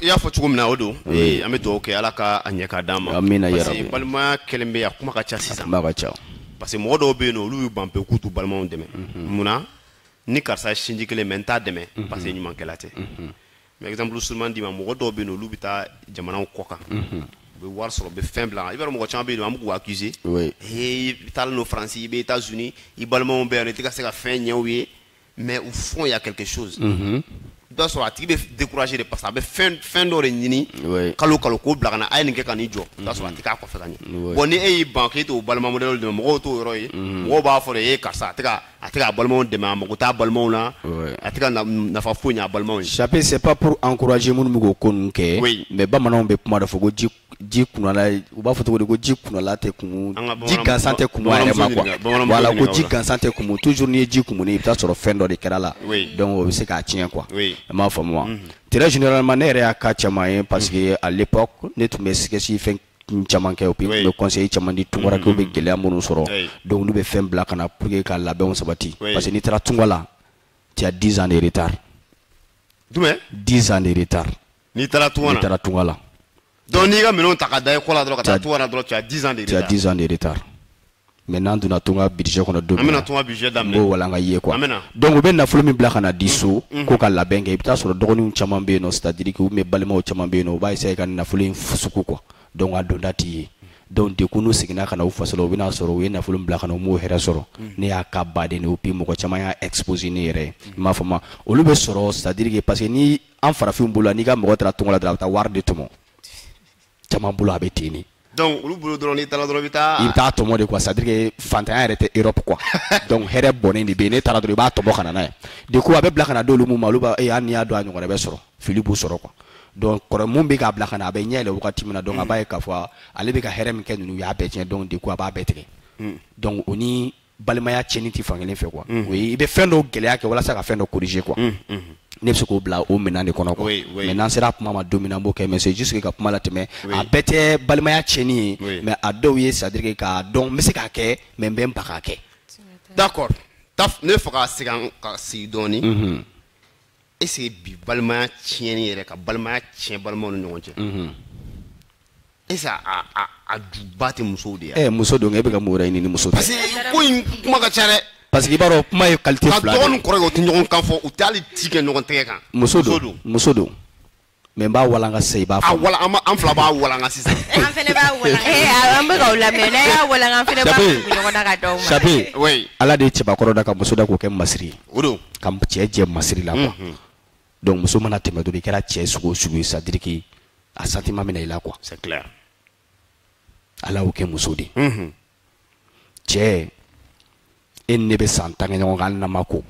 i y'a fɔ cogo min na o don an bɛ dugawu kɛ ala ka a ɲɛ k'a d'an ma parce que balimaya kɛlen bɛ a kuma ka ca sisan ka ca parce que mɔgɔ dɔw bɛ yen nɔ olu y'u ban pewu k'u t'u balimaw dɛmɛ mhm. munna ni karisa sinji kelen mais n t'a dɛmɛ mhm. parce que ɲumankɛla tɛ mhm. mais exemple surunman d'i ma mɔgɔ dɔw bɛ yen nɔ olu bɛ taa jamanaw kɔ kan u bɛ wari sɔrɔ u bɛ fɛn bila i b'a dɔn mɔgɔ caman bɛ yen nɔ an bɛ k'u accuser ee i taalen don faransi i bɛ États-Unis i balimaw bɛ yan i tɛ ka se ka fɛn ɲɛ u ye mais au fond il y a quelque chose mhm. i b'a sɔrɔ a tigi bɛ découragé de parce que a bɛ fɛn fɛn dɔ de ɲini kalo kalo k'o bila ka na a ye nin kɛ ka nin jɔ i b'a sɔrɔ a tɛ k'a kɔfɛ ka ɲɛ bon ni e y'i ban k'e t'o balima modèle dɛmɛ mɔgɔw t'o yɔrɔ ye mhm. mɔgɔw b'a fɔ de e karisa a tɛ ka a tɛ k'a balimaw dɛmɛ a mago t'a balimaw la a tɛ ka nafa foyi ɲɛ a balimaw ye. Chape c'est pas pour encourager minnu bɛ k'o ko ninnu kɛ mais bamananw bɛ kuma dɔ fɔ ko ji ji kunala u b'a fɔ cogo di ko ji kunala tɛ kumu ji gansan tɛ kumu a yɛrɛ ma quoi voilà ko ji gansan tɛ kumu toujours n'i ye ji kumuni i bɛ taa sɔrɔ fɛn dɔ de kɛra a la donc o bɛ se k'a tiɲɛ quoi i m'a faamu wa très généralement ne yɛrɛ y'a cas caman ye parce que à l'époque ne tun bɛ sketch fɛn caman kɛ puis n tun bɛ conseil caman di tunkarankɛw bɛ gɛlɛya minnu sɔrɔ donc olu bɛ fɛn bila ka na pour que ka labɛnw sabati parce que n'i taara tunga la tu as 10 ans de retard jumɛn 10 ans de retard n'i taara tunga n'i taara tunga la donc n'i ka minɛnw ta ka da i kɔ la dɔrɔn ka taa tunga na dɔrɔn tu as 10 ans de retard tu as 10 ans de retard mais n'an donna tunga sujet kɔnɔ don min na an bɛna tunga sujet daminɛ n b'o walanga aw ye quoi donc u bɛ nafolo min bila ka na di so mm, mm. ko ka labɛn kɛ i bɛ taa sɔrɔ dɔgɔninw caman bɛ yen nɔ c'est à dire que u bɛ balimaw caman bɛ yen nɔ u b'a essayer ka nafolo in fusuku quoi donc a donda t'i ye donc du coup n'u seginna ka na u faso la u bɛna sɔrɔ u ye nafolo min bila ka na u m'o hɛrɛ sɔrɔ mm. ne y'a cas baden de ye puis mɔgɔ caman y'a exposer ne yɛrɛ ye i m'a faamu olu bɛ sɔrɔ c'est à dire que parce que ni an farafinw bolo n'i ka mɔgɔ taara tunga la dɔrɔn a bɛ taa wari de tɔmɔ caman bolo a bɛ ten de donc olu bolo dɔrɔn n'i taara dɔrɔn i bɛ taa i bɛ taa tɔmɔ de quoi c'est à dire que fantanya yɛrɛ tɛ Europe quoi donc hɛrɛ bɔnnen de bɛ yen n'e taara dɔrɔn i b'a tɔmɔ ka na n'a ye du coup a bɛ bila ka na d'olu min ma olu b'a ee hali n'i y'a dɔn a ɲɔgɔnna bɛ sɔrɔ fili b'u sɔrɔ quoi donc kɔrɔ min bɛ k'a bila ka na a bɛ ɲɛ yɛlɛ wagati min na donc a b'a ye k'a fɔ ale bɛ ka hɛrɛ min kɛ ninnu u y'a bɛɛ tiɲɛ donc du coup a b'a bɛɛ tigɛ donc o ni balimaya tiɲɛni tɛ fankelen fɛ quoi o ye i bɛ fɛn dɔw gɛlɛya kɛ walasa ka fɛn dɔ corriger quoi mhm, mhm. ne bɛ se k'o bila o minɛn de kɔnɔ quoi mais n'an sera a kuma ma don min na n b'o kɛ mais c'est juste que ka kuma latɛmɛ a bɛɛ tɛ balimaya tiɲɛni ye mais a dɔw ye c'est à dire que k'a dɔn n bɛ se k'a kɛ mais n bɛ n ban k'a kɛ d'accord ne fɛ ka segin ka sigi dɔɔni est-ce que bi balimaya tiɲɛni yɛrɛ ka balimaya tiɲɛ balimaw ni ɲɔgɔn cɛ mhm. est-ce que a juba tɛ musow de ye eh, muso don e bɛ ka mun wɛrɛ ɲini ni muso tɛ parce que ko in kuma ka ca dɛ parce que i b'a dɔn kuma ye qualité fila de ye quoi dɔgɔ ni kɔrɔ u tɛ ɲɔgɔn kan fɔ u tɛ hali ji kɛ ɲɔgɔn tɛgɛ kan muso don muso don mais n b'a walanga sisan i b'a fɔ. a walanga an fila b'a walanga sisan. an fɛnɛ b'a walanga. ee an bɛ k'aw lamɛn n'a y'a walanga an fɛnɛ b'a tugu ɲɔgɔn na k'a d'aw ma. sape oui ala de ye cɛbakɔrɔ da ka muso da k'o kɛ masiri ye. o don ka cɛ jɛ masiri la quoi. Mhm. donc muso mana tɛmɛ dɔrɔn i kɛra cɛ sugu o sugu ye c'est à dire que a sentiment bɛ na i la quoi. c'est clair. ala y'o kɛ muso de ye. Mhm. cɛ e ni ne bɛ san tan kɛ ɲɔgɔn kan hali n'an ma ko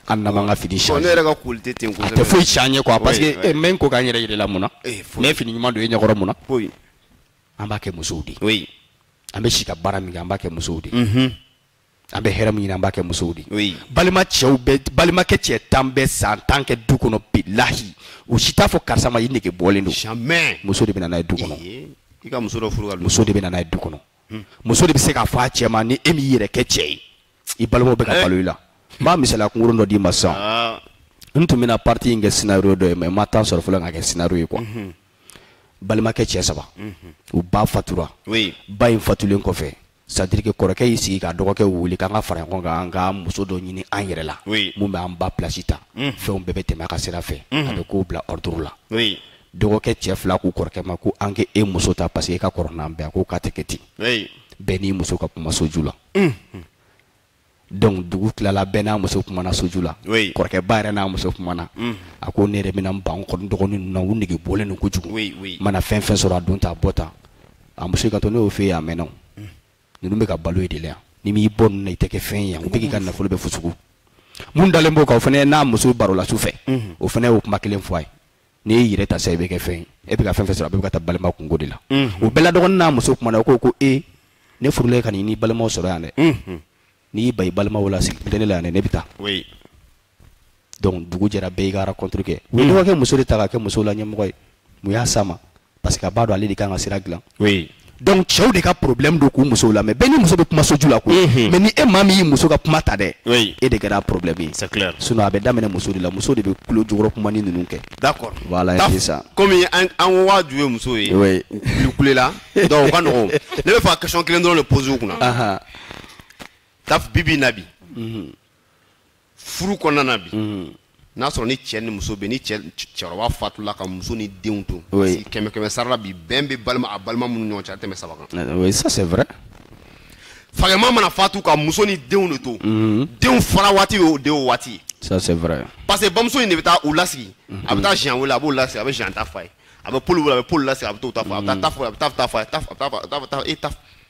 hali n'an m'an ka fini changer ne yɛrɛ ka koli tɛ ten kosɛbɛ a tɛ foyi changer quoi parce que eh, n bɛ n ko ka n yɛrɛ yir'i la mun na eh, n bɛ fini ɲuman don e ɲɛkɔrɔ mun na an b'a kɛ musow de ye an bɛ si ka baara min kɛ an b'a kɛ musow de ye mhm. an bɛ hɛrɛ min ɲini an b'a kɛ musow de ye balima cɛw bɛɛ balimakɛ cɛ tan bɛ san tan kɛ du kɔnɔ bilahi u si t'a fɔ karisa ma i nege bɔlen don muso de bɛ na n'a ye du kɔnɔ muso de bɛ na n'a ye du kɔnɔ hmm. muso de bɛ se k'a fɔ a cɛ ma ni e m'i yɛrɛ kɛ cɛ ye i balimaw bɛ ka eh. balo i la n b'a misaliya kunkurun dɔ d'i ma sisan ah. n tun bɛna partie in kɛ scénario dɔ ye mais n ma temps sɔrɔ fɔlɔ k'a kɛ scénario ye quoi mhm. balimakɛ cɛ saba mhm. u ba fatura ba in fatulen kɔfɛ c'est à dire que kɔrɔkɛ y'i sigi ka dɔgɔkɛ wele k'an ka fara ɲɔgɔn kan an ka muso dɔ ɲini an yɛrɛ la mun bɛ an ba place ta mhm. fɛnw bɛɛ bɛ tɛmɛ a ka sira fɛ a bɛ kow bila ordre la dɔgɔkɛ cɛ fila k'u kɔrɔkɛ ma ko an k'e muso ta parce que e ka kɔrɔ n'an bɛɛ a ko k'a tɛ kɛ ten bɛɛ n'i muso ka kuma soju la donc dugu tilala bɛɛ n'a muso kumana soju la kɔrɔkɛ ba yɛrɛ n'a muso kumana a ko ne yɛrɛ bɛna n ban kɔni dɔgɔnin ninnu na u nege bɔlen don kojugu n mana fɛn fɛn sɔrɔ a don ta a bɔ ta a muso ka to ne y'o fɛ yen a mɛnna ninnu bɛ ka balo e de la yan n'i m'i bɔ ninnu na i tɛ kɛ fɛn ye yan u bɛ k'i ka nafolo bɛɛ fusugu mun dalen b'o kan o fana n'a muso barola su fɛ o fana y'o kuma kelen fɔ a ye n'i y'i yɛrɛ ta sa i bɛ kɛ fɛn ye e bɛ ka fɛn fɛn sɔrɔ a bɛ ka taa balima kunko de la o bɛɛ la dɔgɔnin n'a muso kumana o ko ko e ne furula ka n'i balimaw sɔrɔ yan dɛ n'i y'i ban i balimaw la sigi tɛ ne la yan dɛ ne bɛ taa donc dugu jɛra bɛɛ y'i ka rencontre kɛ u ye dɔgɔkɛ muso de ta k'a kɛ musow la ɲɛmɔgɔ ye mun y'a s'a ma parce que a b'a dɔn ale de kan ka sira dilan oui donc cɛw de ka problème don k'u musow lamɛn bɛɛ ni muso bɛ kuma soju la koyi mhm. mais ni e maa min y'i muso ka kuma ta dɛ oui. e de kɛra problème ye c'est clair sinon a bɛ daminɛ muso de la muso de bɛ kulo jukɔrɔ kuma ni ninnu kɛ d'accord voilà c'est ça komi an an ko k'a ju ye muso ye olu kulela donc o ka nɔgɔn ne bɛ fɛ ka question kelen dɔrɔn de poser u kunna taf bibi in na bi mhm. furu kɔnɔna na bi mhm. n'a sɔrɔ ni cɛ ni muso bɛ ni cɛkɔrɔba fatula ka muso ni denw to kɛmɛ kɛmɛ sara la bi bɛn bɛ balima a balima minnu ɲɔgɔn cɛ a tɛmɛ saba kan eh, ça c'est vrai fakɛma mana fatu ka muso ni denw de to mhm. denw fara waati bɛ o de o waati ça c'est vrai parce que bamuso in de bɛ taa u lasigi a bɛ taa mhm. siɲɛ wele a b'o lasigi a bɛ siɲɛ ta fa ye a bɛ poli wele a bɛ poli lasigi a bɛ t'o ta fa a bɛ taa ta fɔ a bɛ taa ta fa a bɛ taa ta e ta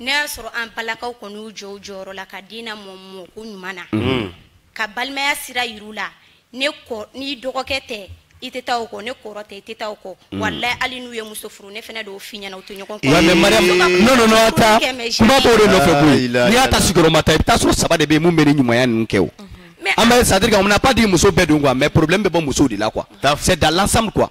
n'e y'a sɔrɔ an balakaw kɔni y'u jɔ u jɔyɔrɔ la ka den lamɔ mɔko ɲuman na mhm. ka balimaya sira yir'u la ne kɔ n'i dɔgɔkɛ tɛ i tɛ taa o kɔ n'e kɔrɔ tɛ i tɛ taa o kɔ mhm. walayi hali n'u ye muso furu ne fana dɔw f'i ɲɛna u tɛ ɲɔgɔn kɔ mais mariam non non non ta kuma b'o de nɔfɛ koyi n'i y'a ta sigiyɔrɔma tan i bɛ taa sɔrɔ saba de bɛ yen mun bɛ ni ɲumanya ninnu kɛ o mhm. an bɛ c'est à dire qu'on n'a pas dit muso bɛɛ don quoi mais problème bɛ bɔ musow de la quoi c'est dans l'ensemble quoi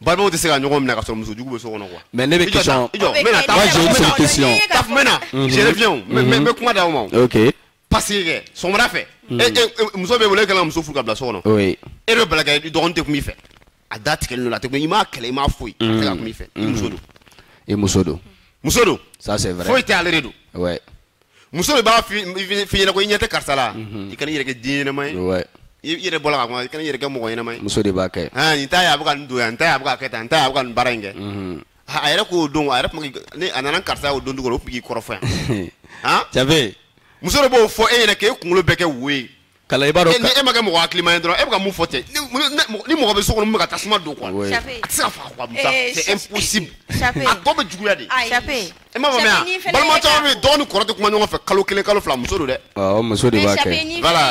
balimaw tɛ se ka ɲɔgɔn minɛ ka sɔrɔ muso jugu bɛ so kɔnɔ quoi. mais ne bɛ question i jɔ n bɛna taa j'ai une seule question taf n bɛna je reviens n bɛ n bɛ kuma d'aw ma o. ok parce que kɛ sɔgɔmada fɛ. Mhm. e e muso bɛ wele e kana muso furu ka bila so kɔnɔ. oui e bɛ bala k'e dɔgɔnin tɛ kum'i fɛ a da tigɛlen don a tɛ kuma i m'a kɛlɛ i m'a foyi a tɛ ka kum'i fɛ i muso don. i muso don. muso don. ça c'est vrai foyi tɛ ale de don. ouais. muso de b'a f'i ɲɛna ko i ɲɛ tɛ karisa la i kana i yɛrɛ kɛ den ɲɛnama ye Ouais. i i yɛrɛ bɔla ka kuma i kana i yɛrɛ kɛ mɔgɔ ɲɛnama ye muso de b'a kɛ Ah, nin ta ye a bɛ ka nin don yan nin ta ye a bɛ ka kɛ tan nin ta ye a bɛ ka nin baara in kɛ Mhm. Ah, a yɛrɛ k'o don a yɛrɛ tun bɛ k'i- ni a nana ni karisa ye o don dugu la o tun bɛ k'i kɔrɔfɔ yan Han? jabe muso de b'o fɔ e ɲɛna k'e kunkolo bɛɛ kɛ wo ye kala i b'a dɔn e ma kɛ mɔgɔ hakilima ye dɔrɔn e bɛ ka mun fɔ ten ni mɔgɔ bɛ so kɔnɔ mun bɛ ka tasuma don quoi a tɛ se ka faga quoi musa c'est impossible a tɔ bɛ juguya de e m'a faamuya balima caman bɛ yen dɔgɔ ni kɔrɔ tɛ kuma ɲɔgɔn fɛ kalo kelen kalo fila muso don dɛ awɔ muso de b'a kɛ voilà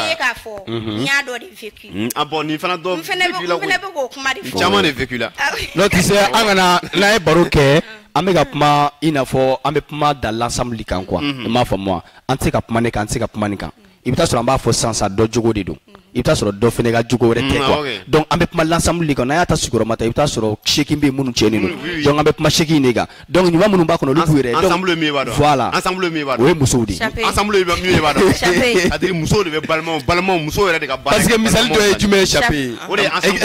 n y'a dɔ de vécu ah bon nin fana dɔ vécu la koyi n fana bɛ k'o kuma de fɔ caman de vécu la non tu sais an kana n'an ye baro kɛ an bɛ ka kuma i n'a fɔ an bɛ kuma dans l'ensemble kan quoi i m'a faamu wa an tɛ se ka kuma ne kan an tɛ se ka kuma nin kan i bɛ taa sɔrɔ an b'a fɔ sisan dɔ jogo de don i bɛ taa sɔrɔ dɔ fana ka jogo yɛrɛ tɛ mm, quoi donc an bɛ kuma l'ensemble de kan n'an y'a ta sigiyɔrɔma tan i bɛ taa sɔrɔ seegin bɛ minnu cɛnnen don mm, donc an bɛ kuma seegin de kan donc ɲuman minnu b'a kɔnɔ olu b'u yɛrɛ la o ye musow de ye muso de bɛ balima balima muso yɛrɛ de ka parce que misali dɔ ye jumɛn ye sape ye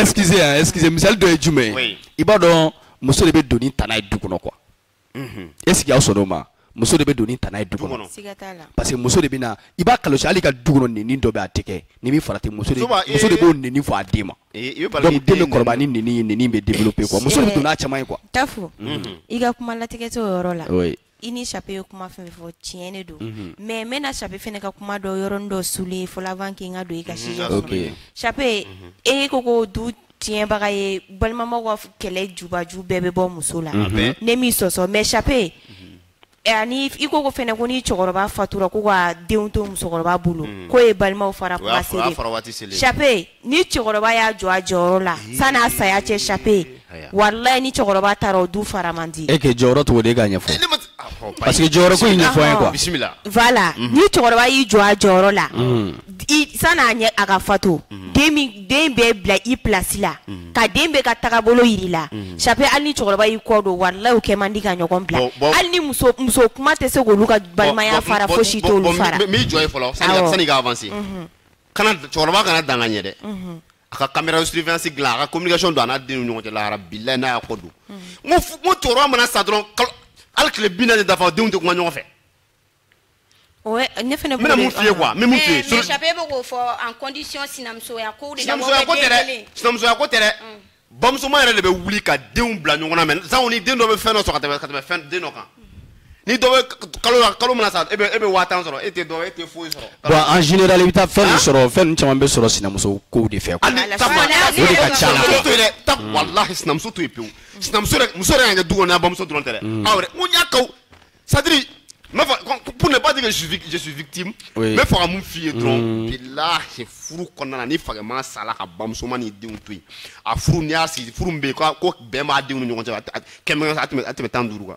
excusez excusez misali dɔ ye jumɛn ye i b'a dɔn muso de bɛ don ni tana ye du kɔnɔ quoi est-ce que aw sɔnna o ma muso de bɛ don ni tana ye du kɔnɔ parce que muso de bɛ na i b'a kɔlɔsi hali ka du kɔnɔ nɛni dɔ bɛ a tɛ kɛ n'i ma farati muso de muso de b'o nɛni fɔ a den ma donc den bɛ kɔrɔbaya ni nɛni ye nɛni bɛ développer quoi muso de bɛ don n'a caman ye quoi tafo i ka kuma latigɛ t'o yɔrɔ la i ni chape ye kuma fɛn fɔ tiɲɛ de don mais n bɛna chape fɛnɛ ka kuma dɔ yɔrɔnin dɔ souligner fɔlɔ avant que n ka don i ka sujet kɔnɔ chape e ko ko du tiɲɛbaga ye balimamaw ka kɛlɛ jubaju bɛɛ bɛ bɔ muso la mhm. ne m'i sɔsɔ mais chape eh, ani i ko ko fɛnɛ ko ni cɛkɔrɔba fatura ko ka denw to musokɔrɔba bolo mhm. k'o ye balimaw fara kuma selen chape ni cɛkɔrɔba y'a jɔ a jɔyɔrɔ la sani a saya cɛ chape walayi ni cɛkɔrɔba taara o du fara man di e kɛ jɔyɔrɔ cogo di e k'a ɲɛfɔ Parce que jɔyɔrɔ ko in ɲɛfɔ an ye quoi. Bisimila. Voilà. Ni cɛkɔrɔba y'i jɔ a jɔyɔrɔ la. I san'a ɲɛ a ka fatu. Den min den bɛɛ bila i place la. Ka den bɛɛ ka tagabolo yir'i la. Chape hali ni cɛkɔrɔba y'i kɔ don walahi u kɛ man di ka ɲɔgɔn bila. Bon, bon. Hali ni muso muso kuma tɛ se k'olu ka balimaya Bon, bon, fara bon, fosi bon, t'olu bon, fara. n bɛ- n b'i jɔ yen fɔlɔ sani ka- Awɔ. san'i ka avancer. Kana cɛkɔrɔba kana dan ka ɲɛ dɛ. a ka caméra surveillance dilan a ka communication don a n'a den ni ɲɔgɔn cɛ lahara bilayi n'a y'a kɔ don n ko f- n ko cɛkɔrɔba mana sa dɔrɔn kalo hali tile bi naani tɛ dafa denw tɛ kuma ɲɔgɔn fɛ Ouais, ne fana n bɛna mun f'i ye quoi n bɛ mun f'i ye Eh, mais Chape bɛ k'o fɔ en condition sinamusoya kow de la mɔgɔ sinamusoya ko bɛ tɛ den dɛ kelen. sinamusoya ko tɛ dɛ bamusoman yɛrɛ de bɛ wuli ka denw bila ɲɔgɔn na mais sanko ni den dɔ bɛ fɛn dɔ sɔrɔ ka tɛmɛ ka tɛmɛ fɛn den dɔ kan ni dɔ bɛ kalo la kalo mana sa e bɛ e bɛ waa tan sɔrɔ e tɛ dɔ e tɛ foyi sɔrɔ. bon en général i bɛ taa fɛn min sɔrɔ fɛn ninnu caman bɛ sɔrɔ sinamuso kow de fɛ. hali takuma o de ka ca la quoi. to yen dɛ ta walahi sinamuso to yen pewu sinamuso yɛrɛ muso yɛrɛ ka kɛ du kɔnɔna bamuso dɔrɔn tɛ dɛ aw yɛrɛ n ko n y'a kaw c'est-à-dire n b'a fɔ pour ne pas dire que je suis vic- je suis victime Oui. n bɛ fɛ ka mun f'i ye dɔrɔn bilahi furu kɔnɔna na ni fakɛman sala ka bamusoman ni denw to yen a furu n'i y'a sigi furu min bɛ yen ko ko bɛn b'a denw ni ɲɔgɔn cɛ a tɛ- a tɛ- kɛmɛ a tɛmɛ a tɛmɛ tan ni duuru kan.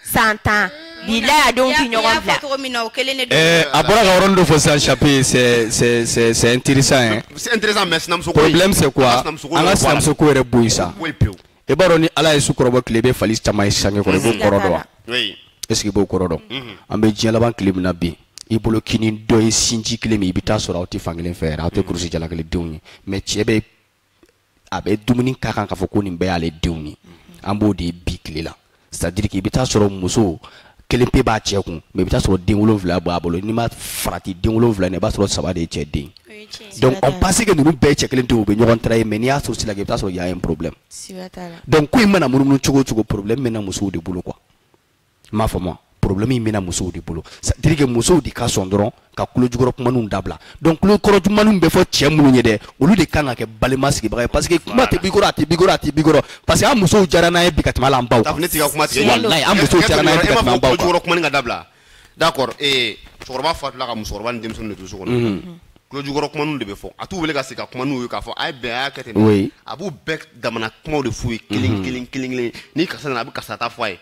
san tan bi la y'a denw ti ɲɔgɔn bila cogo min na o kelen de don Eh, a bɔra ka yɔrɔnin dɔ fɔ sisan chape c'est c'est c'est c'est intéressant hein C'est intéressant, mais sinamuso ko in- problème c'est quoi an ka sinamuso ko an yɛrɛ ka bɔ a la. sinamuso ko yɛrɛ bɔ yen sa Ko in pewu. i b'a dɔn ni ala ye su kɔrɔbɔ tile i bɛ fali caman ye sange kɔrɔ i b'o kɔrɔ dɔn wa Oui. est ce que i b'o kɔrɔ dɔn Mhm. an bɛ diɲɛ laban tile min na bi i bolo k'i ni dɔ ye sinji kelen min i bɛ taa sɔrɔ aw tɛ fankelen fɛ yɛrɛ aw tɛ kurusi jala kelen denw ye mais cɛ bɛ a bɛ dumuni k'a kan k'a fɔ ko nin bɛɛ y'ale denw ye an b'o de bi tile la c'est-à-dire que i bɛ taa sɔrɔ muso kelen pe b'a cɛ kun mais i bɛ taa sɔrɔ den wolonwula b'a bolo n'i ma farati den wolonwula i b'a sɔrɔ saba de ye cɛ den donc on pense que ninnu bɛɛ cɛ kelen tɛ u bɛ ɲɔgɔn trahir mais n'i y'a source lajɛ i bɛ taa sɔrɔ y a un problème donc ko in mana munumunu cogo o cogo problème bɛ na musow de bolo quoi i m'a faamu problème in bɛna musow de bolo c'est à dire que musow de ka sɔn dɔrɔn ka kulojukɔrɔ kuma ninnu dabila donc kulokɔrɔ kuma ninnu bɛ fɔ cɛ minnu ye dɛ olu de kan ka kɛ balima sigibaga ye parce que kuma tɛ bikɔrɔ a tɛ bikɔrɔ a tɛ bikɔrɔ parce que an musow jara an ye bi ka tɛmɛ hali an baw kan ne t'i ka kuma tigɛ walayi an musow jara an ye bi ka tɛmɛ an baw kan kulojukɔrɔ kuma in ka dabila d'accord ee cɛkɔrɔba fatula ka musokɔrɔba ni denmisɛnninw de to so kɔnɔ mhm. kulojukɔrɔ kuma ninnu de bɛ fɔ a t'u wele ka sigi ka kuma ninnu ye k'a fɔ a ye bɛn a y'a kɛ ten a b'u bɛɛ damana kumaw de f'u ye kelen mhm. kelen kelen kelen ni karisa nana a bɛ karisa ta fɔ a ye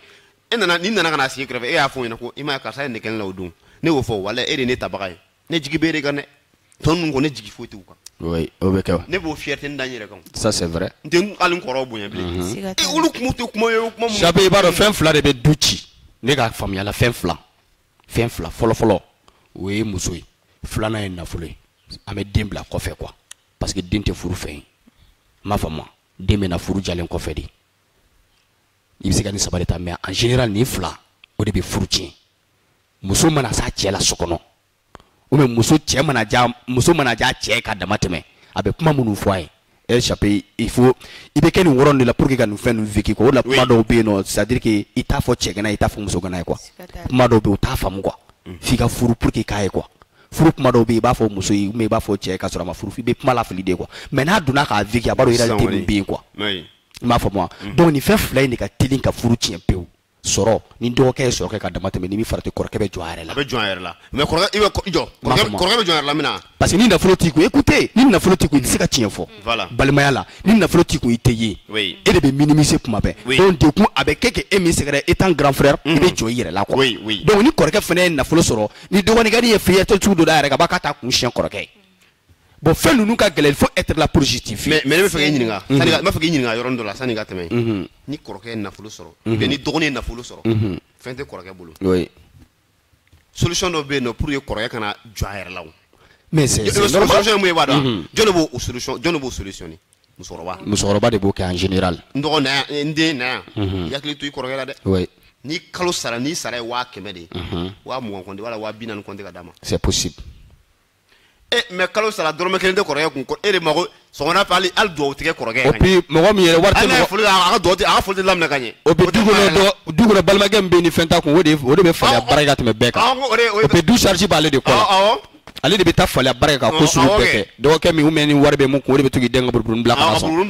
e nana ni n nana ka na sigi i kɛrɛfɛ e y'a fɔ n ɲɛna ko i ma karisa ye ne kɛnɛ la o don ne y'o fɔ wala e de ne tabaga ye ne jigi bɛ e de kan dɛ tɔ ninnu ko ne jigi foyi t'u kan oui o bɛ kɛ ne b'o fierté n da n yɛrɛ kan ça c'est vrai n tɛ hali n kɔrɔw bonya bilen mhm. e olu kuma tɛ kuma ye kuma mun sabu i b'a dɔn fɛn fila de bɛ du ci ne ka faamuya la fɛn fila fɛn fila fɔlɔfɔlɔ o ye muso ye filanan ye nafolo ye an bɛ den bila kɔfɛ quoi parce que den tɛ furu fɛn ye i m'a faamu den bɛ na furu jalen kɔfɛ de i bɛ se ka nin saba de ta mais en général nin fila o de bɛ furu tiɲɛ muso mana s'a cɛ la so kɔnɔ ou bien muso cɛ mana ja muso mana ja cɛ ka dama tɛmɛ a bɛ kuma minnu fɔ a ye elle échappé il faut i bɛ kɛ nin yɔrɔ de la pour que ka nin fɛn ninnu vécu quoi o de la kuma dɔw bɛ yen nɔ c'est à dire que i t'a fɔ cɛgana i t'a fɔ musogana ye quoi kuma dɔw bɛ yen u t'a faamu quoi f'i ka furu pour que k'a ye quoi furu kuma dɔw bɛ yen i b'a fɔ muso ye ou bien i b'a fɔ cɛ ye k'a sɔrɔ a ma furu i bɛ kuma lafili de quoi mais n'a donna k'a vécu a b'a dɔn réalité min bɛ yen quoi. i m'a faamu wa mhm. donc nin fɛn fila in de ka teli ka furu tiɲɛ pewu sɔrɔ ni dɔgɔkɛ ye sɔrɔ kɛ ka dama tɛmɛ n'i ma farati kɔrɔkɛ bɛ jɔ a yɛrɛ la a bɛ jɔ a yɛrɛ la mais kɔrɔkɛ i bɛ jɔ kɔrɔkɛ bɛ jɔ a yɛrɛ la min na parce que ni nafolo t'i kun écoutez ni nafolo t'i kun i tɛ se ka tiɲɛ fɔ voilà balimaya la ni nafolo t'i kun i tɛ ye oui e de bɛ minimiser kuma bɛɛ oui donc du coup a bɛ kɛ kɛ e min sɛgɛrɛ étant grand frère i bɛ jɔ i yɛrɛ la quoi oui oui donc ni kɔrɔkɛ fana ye nafolo sɔrɔ ni dɔgɔnin kɔni ye fierté cogo dɔ da a yɛrɛ kan a b'a k'a t'a kun siɲɛ kɔrɔkɛ ye bon fɛn ninnu ka gɛlɛn faut être là positif mais mais ne b'a fɛ k'i ɲininka mhm. sani ka n b'a fɛ k'i ɲininka yɔrɔ dɔ la sani ka tɛmɛ mhm. ni kɔrɔkɛ ye nafolo sɔrɔ mhm. ou bien ni dɔgɔnin ye nafolo sɔrɔ fɛn tɛ kɔrɔkɛ bolo oui solution dɔ bɛ yen nɔ pour que kɔrɔkɛ kana jɔ a yɛrɛ la wa mais c'est normal solution ye mun ye i b'a dɔn jɔn de b'o solution jɔn de b'o solutionner musokɔrɔba musokɔrɔba de b'o kɛ en général n dɔgɔ na yan n den na yan i hakili to i kɔrɔkɛ la dɛ oui ni kalo sara ni sara ye waa kɛmɛ de ye waa mugan compter wala waa bi naani compter ka d'a ma c'est possible e eh, mais kalo sara dɔrɔmɛ kelen tɛ kɔrɔkɛ kun e de mago sɔgɔmada fɛ hali hali dugawu tɛ kɛ kɔrɔkɛ ye. et puis mɔgɔ min yɛrɛ wari tɛ mɔgɔ foli a ka dugawu a ka foli tɛ laminɛ ka ɲɛ. o bɛ du kɔnɔ dɔ du kɔnɔ balimakɛ min bɛ ni fɛn t'a kun o de o de bɛ falen baara ka tɛmɛ bɛɛ kan o bɛ du charge b'ale de kɔnɔ ale de bɛ taa falen baara ka ko sugu bɛɛ kɛ dɔgɔkɛ min ou bien ni wari bɛ min kun o de bɛ to k'i den ka buruburu bila ka sɔn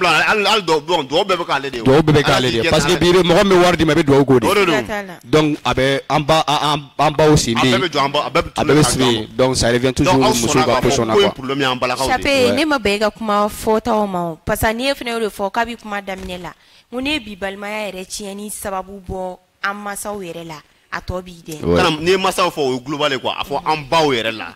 dugawu bɛɛ bɛ k'ale de ye parce que bi mɔgɔ min bɛ wari d'i ma i bɛ dugawu k'o de ye donc a bɛ an ba an an baw sen bɛ yen a bɛɛ bɛ jɔ an ba a bɛɛ bɛ a bɛɛ bɛ sigi yen donc ça revient toujours donc aw musow sɔnna ka k'a fɔ position na ko in quoi problème y'an balakaw de ye. Chape ne ma bɛn i ka kuma fɔtaw ma o parce que ne fana y'o de fɔ kabi kuma daminɛ la ko ne ye bi balimaya yɛrɛ tiɲɛni sababu bɔ an masaw yɛrɛ la a tɔ b'i dɛ. Kana n'i ye masaw fɔ o ye global ye quoi a fɔ an baw yɛrɛ la.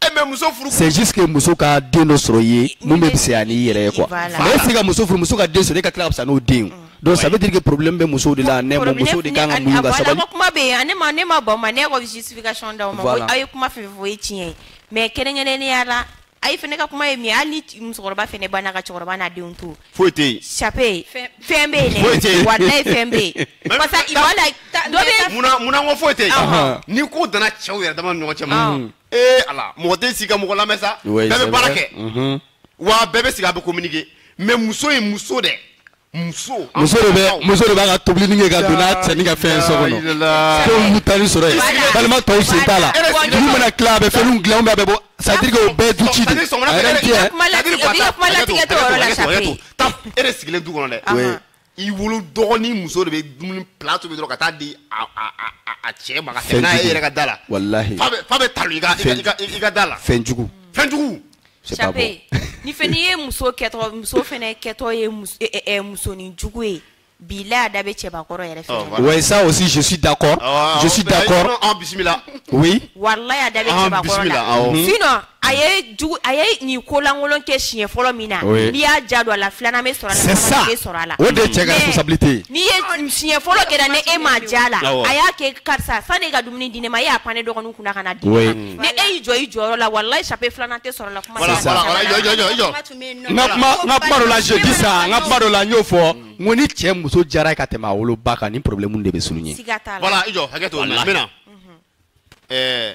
Eh, c'est juste que muso ka den dɔ sɔrɔ i ye min bɛ fisaya n'i yɛrɛ ye quoi mais e se ka muso furu muso ka den sɔrɔ e ka tila ka fisa n'o den ye donc ça veut dire que problème bɛ musow de la ne ma musow de kan ka muɲu ka sabali. kuma bɛ yen ne ma ne ma bɔ ma ne ka justification d'aw ma aw ye kuma fɛn fɛn fɔ o ye tiɲɛ ye mais kɛrɛnkɛrɛnnenya la ayi fɛnɛ ka kuma ye min ye hali ni musokɔrɔba fɛnɛ banna ka cɛkɔrɔba n'a denw to foyi tɛ yen chape fɛn bɛ yen dɛ walayi fɛn bɛ yen parce que il wala dɔ bɛ munna munna ko foyi tɛ yen ni ko dana cɛw yɛrɛ dama ni ɲɔgɔn cɛ ma ee ala mɔgɔ tɛ sigi ka mɔgɔ lamɛn sa bɛɛ bɛ baara kɛ wa bɛɛ bɛ sigi a bɛ communiquer mais muso ye muso dɛ muso muso de bɛ muso de b'a ka tobilini kɛ ka don n'a cɛ ni ka fɛn so kɔnɔ fɛnw bɛ taa ni sɔrɔ ye balima tɔw sen t'a la dugu mana tila a bɛ fɛnw dilan bɛɛ bɛ bɔ c'est-à-dire o bɛ du ci de a yɛrɛ tɛ yan. kuma latigɛ t'o yɔrɔ la Chape. e de sigilen du kɔnɔ dɛ. i wolo dɔgɔnin muso de bɛ dumuni plat tobi dɔrɔn ka taa di a cɛ ma ka tɛmɛ n'a ye e yɛrɛ ka da la walahi fa bɛ talo i ka i ka da la fɛnjugu fɛnjugu Chape ni fɛn n'i ye muso kɛtɔ muso fana kɛtɔ ye eh, eh, eh, musonin jugu ye bi la a da bɛ cɛbakɔrɔ yɛrɛ fɛ oh, oui ça aussi je suis d'accord ah, je suis d'accord bisimila oui walahi a da bɛ ah, cɛbakɔrɔ la sinon a ye jugu a ye nin kolankolon kɛ siɲɛ fɔlɔ min na Oui. n'i y'a diya don a la filanan bɛ sɔrɔ a la C'est sabanan ça. bɛ sɔrɔ a la O de ye cɛ ka Mais responsabilité ye. ni siɲɛ fɔlɔ kɛra ni e m'a ja a la Awɔ. a y'a kɛ karisa sani e ka dumuni di ne ma e y'a pan ne dɔgɔninw kunna ka na di Oui. ne ma ni e y'i jɔ i jɔyɔrɔ la walayi Chape filanan tɛ sɔrɔ a la kuma Voilà, tɛ voilà, sɔrɔ a la. voilà, jɔ, jɔ, jɔ, jɔ. Kuma tun bɛ yen nɔ. n ka kuma n ka kuma dɔ la je dis ça n ka kuma dɔ la n y'o fɔ n ko ni cɛ muso diyara ye ka tɛmɛ a woloba kan ni problème de bɛ souligner siga t'a la Voilà, i jɔ hakɛ to n bɛna. Walahi. Ɛɛ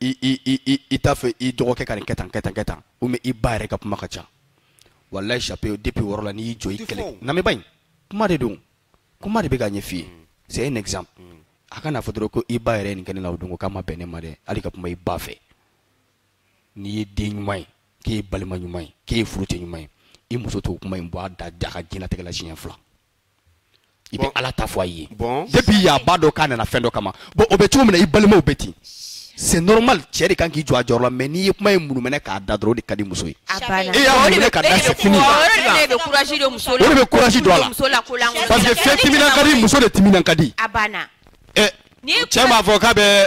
i i i i i t'a fɛ i dɔgɔkɛ ka nin kɛ tan kɛ tan kɛ tan ou bien i ba yɛrɛ ka kuma ka ca walayi Chape depuis o yɔrɔ la n'i y'i jɔ i kɛlɛ lamɛnba in kuma de don kuma de bɛ ka ɲɛf'i ye mm. c'est un exemple mm. a ka n'a fɔ dɔrɔn ko i ba yɛrɛ ye nin kɛ ne la o don ko k'a ma bɛn ne ma dɛ hali ka kuma i ba fɛ n'i ye den ɲuman ye k'e ye balima ɲuman ye k'e ye furucɛ ɲuman ye i muso t'o kuma in bɔ a da a ka diɲɛlatigɛ la siɲɛ fila i bɛ ala ta fɔ a ye depuis yan a b'a dɔn k'a nana fɛn dɔ kama bon o bɛ cogo min na i balimaw bɛ ten c'est normal cɛ de kan k'i jɔ a jɔyɔrɔ la mais n'i ye kuma in munumɛnɛ k'a da dɔrɔn o de ka di muso ye e y'a munumɛnɛ k'a da c'est fini o de bɛ courage don muso la o de bɛ courage don a la parce que fɛn timinan ka di muso de timinan ka di a banna ɛ cɛ m'a fɔ k'a bɛ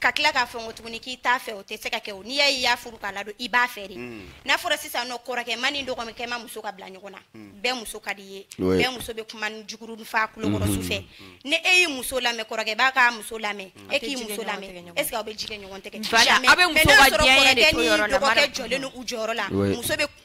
ka tila k'a fɔ ko tuguni k'i t'a fɛ o tɛ se ka kɛ o n'i y'a ye i y'a furu k'a ladon i b'a fɛ de mm. n'a fɔra sisan nɔ kɔrɔkɛma ni dɔgɔkɛma muso ka bila ɲɔgɔn na mm. bɛɛ muso ka d'i ye bɛɛ muso bɛ kumanin jugu de fɔ a kulokɔrɔ mm-hmm. su fɛ mm-hmm. ni e y'i muso lamɛn kɔrɔkɛ b'a ka muso lamɛn mm. e k'i muso lamɛn est ce que aw bɛ ji kɛ ɲɔgɔn tɛgɛ jamais mais n'a sɔrɔ kɔrɔkɛ ni dɔgɔkɛ jɔlen don u jɔyɔrɔ la muso bɛ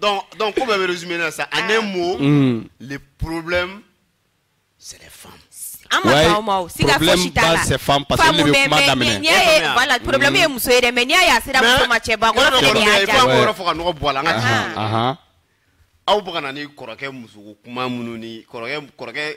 Donc, donc ko bɛɛ bɛ résumé la sa, en ah. un mot, mm. le problème, c'est les femmes. Ah, ouais, problème base c'est femme parce que ne bɛ kuma daminɛ voilà problème ye muso ye dɛ mais n'i y'a ye a sera muso ma cɛbakɔrɔ fɛnɛ de y'a diya mais yɔrɔ fɔ ka nɔgɔ bɔ a la an ka tiɲɛ aw bɛ ka na ni kɔrɔkɛ muso kuma minnu ni kɔrɔkɛ kɔrɔkɛ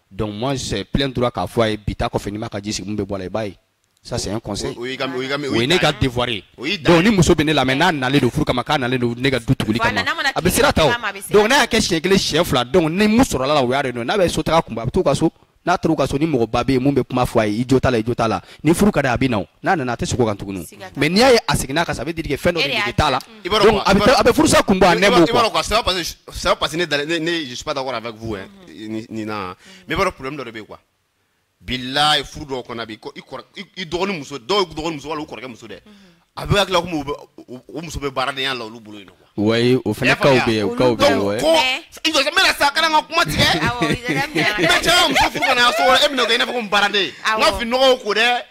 donc moi j'ai plein droit k'a fɔ a ye bi ta kɔfɛ n'i ma ka ji sigi mun bɛ bɔ a la i b'a ye ça c'est un conseil o ye ne ka devoir ye donc ni muso bɛ ne lamɛn n'a nalen don furu kama k'a nalen don ne ka du tuguli kama a bɛ sira ta o donc n'a y'a kɛ siɲɛ kelen siɲɛ fila donc ni mun sɔrɔla a la o y'a de dɔn n'a bɛ so taga kun bɔ a bɛ t'u ka so n'a taara u ka so ni mɔgɔba bɛ yen min bɛ kuma fɔ a ye i jo t'a la i jo t'a la ni furu ka di a bɛ na o n'a nana a tɛ segin o kan tuguni mais n'i y'a ye a seginna a kan ça veut dire que fɛn dɔ de nege t'a la donc a bɛ furusa kun bɔ a nɛ b'o quoi. i b'a dɔn quoi c'est pas parce que c'est pas parce que ne dalen ne je suis pas d'accord avec vous hein. Nina mais vrai problème dɔ de bɛ quoi bilayi furu dɔw kɔnɔ bi i dɔgɔnin muso dɔw dɔgɔnin muso wala u kɔrɔkɛ muso dɛ a b'a hakili la komi o muso bɛ baaradenya la olu bolo yen nɔ quoi o fana kaw bɛ yen o kaw bɛ yen ouais ko i jɔ n bɛ na sa kana n ka kuma tigɛ i bɛ cɛ muso furu ka na so e bɛna kɛ i n'a fɔ ko n baaraden n ka fini nɔgɔw ko dɛ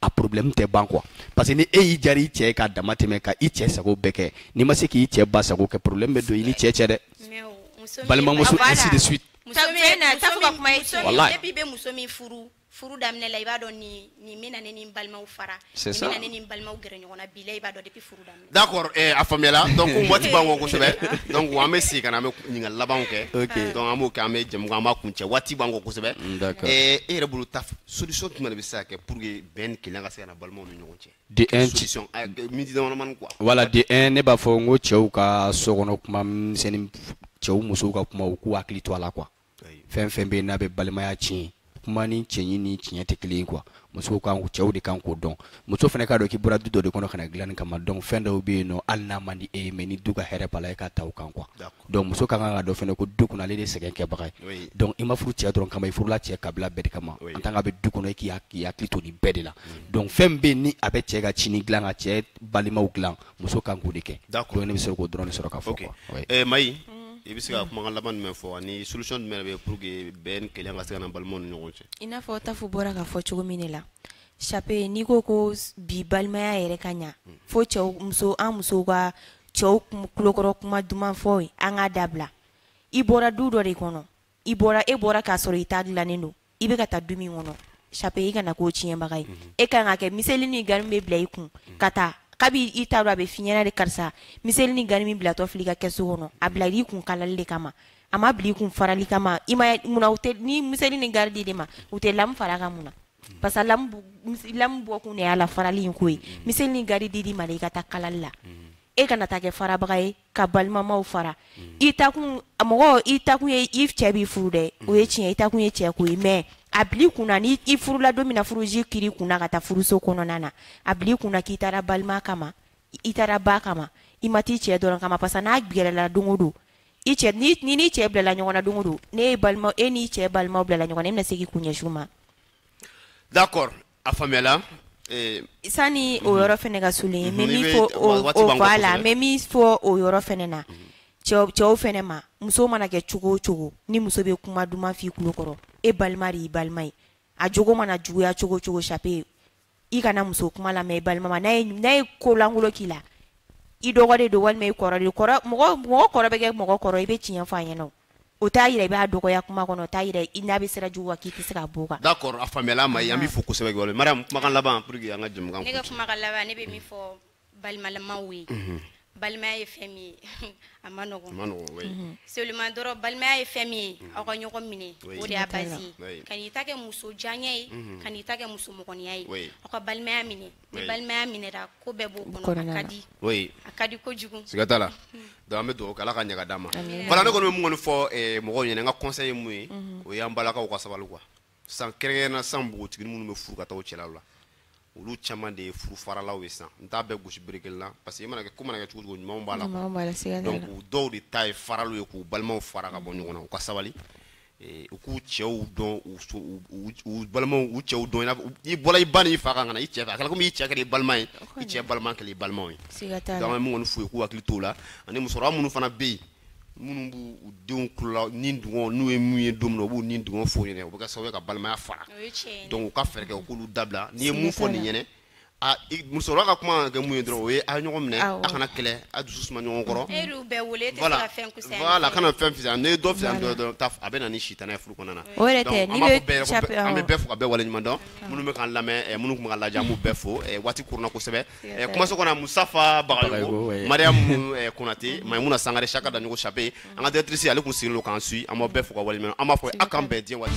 a problème tɛ ban quoi parce que ni e y'i jari i cɛ ye k'a dama tɛmɛ ka i cɛ sago bɛɛ kɛ n'i ma se k'i cɛ ba sago kɛ problème bɛ don i n'i cɛ cɛ dɛ balimamuso ainsi de suite wallahi depuis i bɛ muso min furu furu daminɛ la i b'a dɔn nin nin bɛna ne ni n balimaw fara nin bɛna ne ni n balimaw gɛrɛ ɲɔgɔn na bilayi i b'a dɔn depuis furu daminɛ D'accord a faamuyala donc waati b'an kɔ kosɛbɛ donc an bɛ segin ka na an bɛ ɲininkali labanw kɛ donc an b'o kɛ an bɛ jɛmukan an b'a kuncɛ waati b'an kɔ kosɛbɛ e yɛrɛ bolo ta solution jumɛn de bɛ se ka kɛ pour que bɛn ni kelenya ka se ka na balimaw ni ɲɔgɔn cɛ dɛ miniti damadamanin quoi voilà de un ne b'a fɔ n ko cɛw ka so kɔnɔ kuma misɛnnin cɛw musow ka kuma u k'u hakili to a la quoi fɛn fɛn bɛ yen n'a bɛ balimaya tiɲɛ kumanin cɛɲi ni tiɲɛ tɛ kelen ye quoi musow kan cɛw de kan k'o dɔn muso fana k'a dɔn k'i bɔra du dɔ de kɔnɔ ka na dilanni kama donc fɛn dɔw bɛ yen nɔ hali n'a man di e ye mais ni du ka hɛrɛ b'a la e k'a ta o kan quoi donc muso ka kan k'a dɔn fana ko du kɔnɔ ale de ye sɛgɛn kɛbaga ye donc i ma furu cɛ dɔrɔn kama i furula cɛ kabila bɛɛ de kama en tant que a bɛ du kɔnɔ e k'i hakili to nin bɛɛ de la mm. donc fɛn bɛ yen ni a bɛ cɛ ka sini dilan ka cɛ balimaw dilan muso kan k'o de kɛ d'accord ne bɛ se k'o dɔrɔn de sɔrɔ k'a fɔ quoi oui ɛ Mayi i bɛ se ka kumakan laban jumɛn fɔ ani solution jumɛn de bɛ yen pour que bɛn ni kelenya ka se ka na balimaw ni ɲɔgɔn cɛ i n'a fɔ Tafu bɔra k'a fɔ cogo min de la Chape n'i ko ko bi balimaya yɛrɛ ka ɲa fo cɛw muso an musow ka cɛw kulokɔrɔ kuma duman fɔ ye an k'a dabila i bɔra du dɔ de kɔnɔ i bɔra e bɔra k'a sɔrɔ i ta dilannen don i bɛ ka taa du min kɔnɔ chape i kana k'o tiɲɛbaga ye mhm. e ka kan ka kɛ miseli ni gari bɛ bila i kun mhm. ka taa kabi i t'a dɔn a bɛ f'i ɲɛna de karisa miseli ni gari min bilatɔ filɛ i ka kɛsu kɔnɔ a bila i kun kalali de kama a ma bila i kun farali kama i ma munna u tɛ ni miseli ni gari di de ma u tɛ lamu fara a kan mun na mhm. parce que lamu lamu bɔ kun de y'a la farali in ko ye miseli ni gari di i ma de i ka taa kalali la e kana taa kɛ farabaga ye ka balimamaw fara mm. i taakun mɔgɔ i taakun ye i cɛ b'i furu dɛ o ye mm. tiɲɛ i taakun ye cɛ ko ye mais a bil'i kun na ni i furula don min na furuji kiri kunna ka taa furuso kɔnɔna na a bil'i kun na k'i taara balima kama i taara ba kama i ma taa i cɛ dɔrɔn kama parce que n'a kɛlɛla don o don i cɛ ni ni n'i cɛ bilala ɲɔgɔn na don o don n'e ye balima e n'i cɛ balimaw bilala ɲɔgɔn na e bɛna se k'i kun ɲɛsin u ma. d'accord A faamuyala ee sani o yɔrɔ fana ka sulen ye, n bɛ min fɔ o waati b'an bolo, voilà n bɛ min fɔ o yɔrɔ fana na, cɛw cɛw fana ma, muso mana kɛ cogo o cogo, ni muso bɛ kuma duman fɔ i tulo kɔrɔ, e balima de y'i balima ye, a jogo mana juguya cogo o cogo chape i kana muso kuma lamɛn i balima ma, n'a ye n'a ye ko lankolon k'i la, i dɔgɔ de don walima i kɔrɔ de don, kɔrɔ mɔgɔ mɔgɔ kɔrɔ bɛ kɛ mɔgɔ kɔrɔ i bɛ tiɲɛ fɔ a ɲɛna o, o t'a jira i b'a dɔgɔya kuma kɔnɔ o t'a jira i n'a bɛ sira jugu wa k'i tɛ se k'a b'o kan. d'accord a faamuyala Mayi an b'i fo kosɛbɛ voilà Mariam kumakan laban pour que an ka jɛmukan kuncɛ. ne ka kumakan laban ne bɛ min fɔ balimamaw ye. Mhm. balimaya ye fɛn min ye a man nɔgɔn. a man nɔgɔn oui. Mhm. seulement dɔrɔn balimaya ye fɛn min ye mhm. aw ka ɲɔgɔn minɛ o de y'a base ye kan'i ta kɛ muso diyanye ye kan'i ta kɛ muso mɔgɔniya ye aw ka balimaya minɛ. ni balimaya minɛra ko bɛɛ b'o kɔnɔ a ka di a ka di kojugu siga t'a la donc an bɛ dugawu kɛ ala ka ɲaga d'an ma voilà ne kɔni bɛ mun kɔni fɔ eh, mɔgɔw ɲɛna n ka conseil ye mun ye mhm. o y'an balakaw ka sabali quoi san kɛrɛnkɛrɛnna san npogotigini minnu bɛ furu ka taa u cɛlaw la olu caman de ye furu faralaw ye san n t'a bɛɛ gosi bere kelen na parce que i mana kɛ ko mana kɛ cogo cogo ɲumanw b'a la donc u dɔw de ta ye faraliw ye k'u balimaw fara ka bɔ ɲɔgɔn na u ka sabali Eh, u k'u cɛw dɔn u balimaw u cɛw dɔn i bɔra i ba n'i fa kan ka na i cɛ fɛ a kɛra komi i cɛ kɛra i balima ye i cɛ balima kɛra i balimaw ye donc n bɛ min kɔni f'u ye u k'u hakili t'o la ani musokɔrɔba minnu fana bɛ yen minnu b'u denw kulola nidungɔ n'u ye mun ye don min na u b'u nidungɔ f'u ɲɛna u bɛ kɛ sababu ye ka balimaya fara donc u ka fɛɛrɛ kɛ u k'olu dabila n'i ye mun fɔ nin ɲɛna musokɔrɔba ka kuma ka kɛ mun ye dɔrɔn o ye a ɲɔgɔn minɛ a kana kɛlɛ a dusu suma ɲɔgɔn kɔrɔ a kana fɛn fisaya n'e ye dɔ fisaya dɔrɔn a bɛ na ni sitanɛ ye furu kɔnɔna na an bɛ bɛɛ fo ka bɛɛ wale ɲuman dɔn minnu bɛ k'an lamɛn minnu tun bɛ k'an lajɛ an b'u bɛɛ fo waati kurunna kosɛbɛ kumaso kɔnɔ musafa bagayogo mariam konatɛ maimuna sangare saka daɲɔgɔ chape an ka directrice ale kun sigilen don k'an suivre an b'aw bɛɛ fo k'aw waleɲuman an b'a fɔ a k'an bɛn diɲɛ waati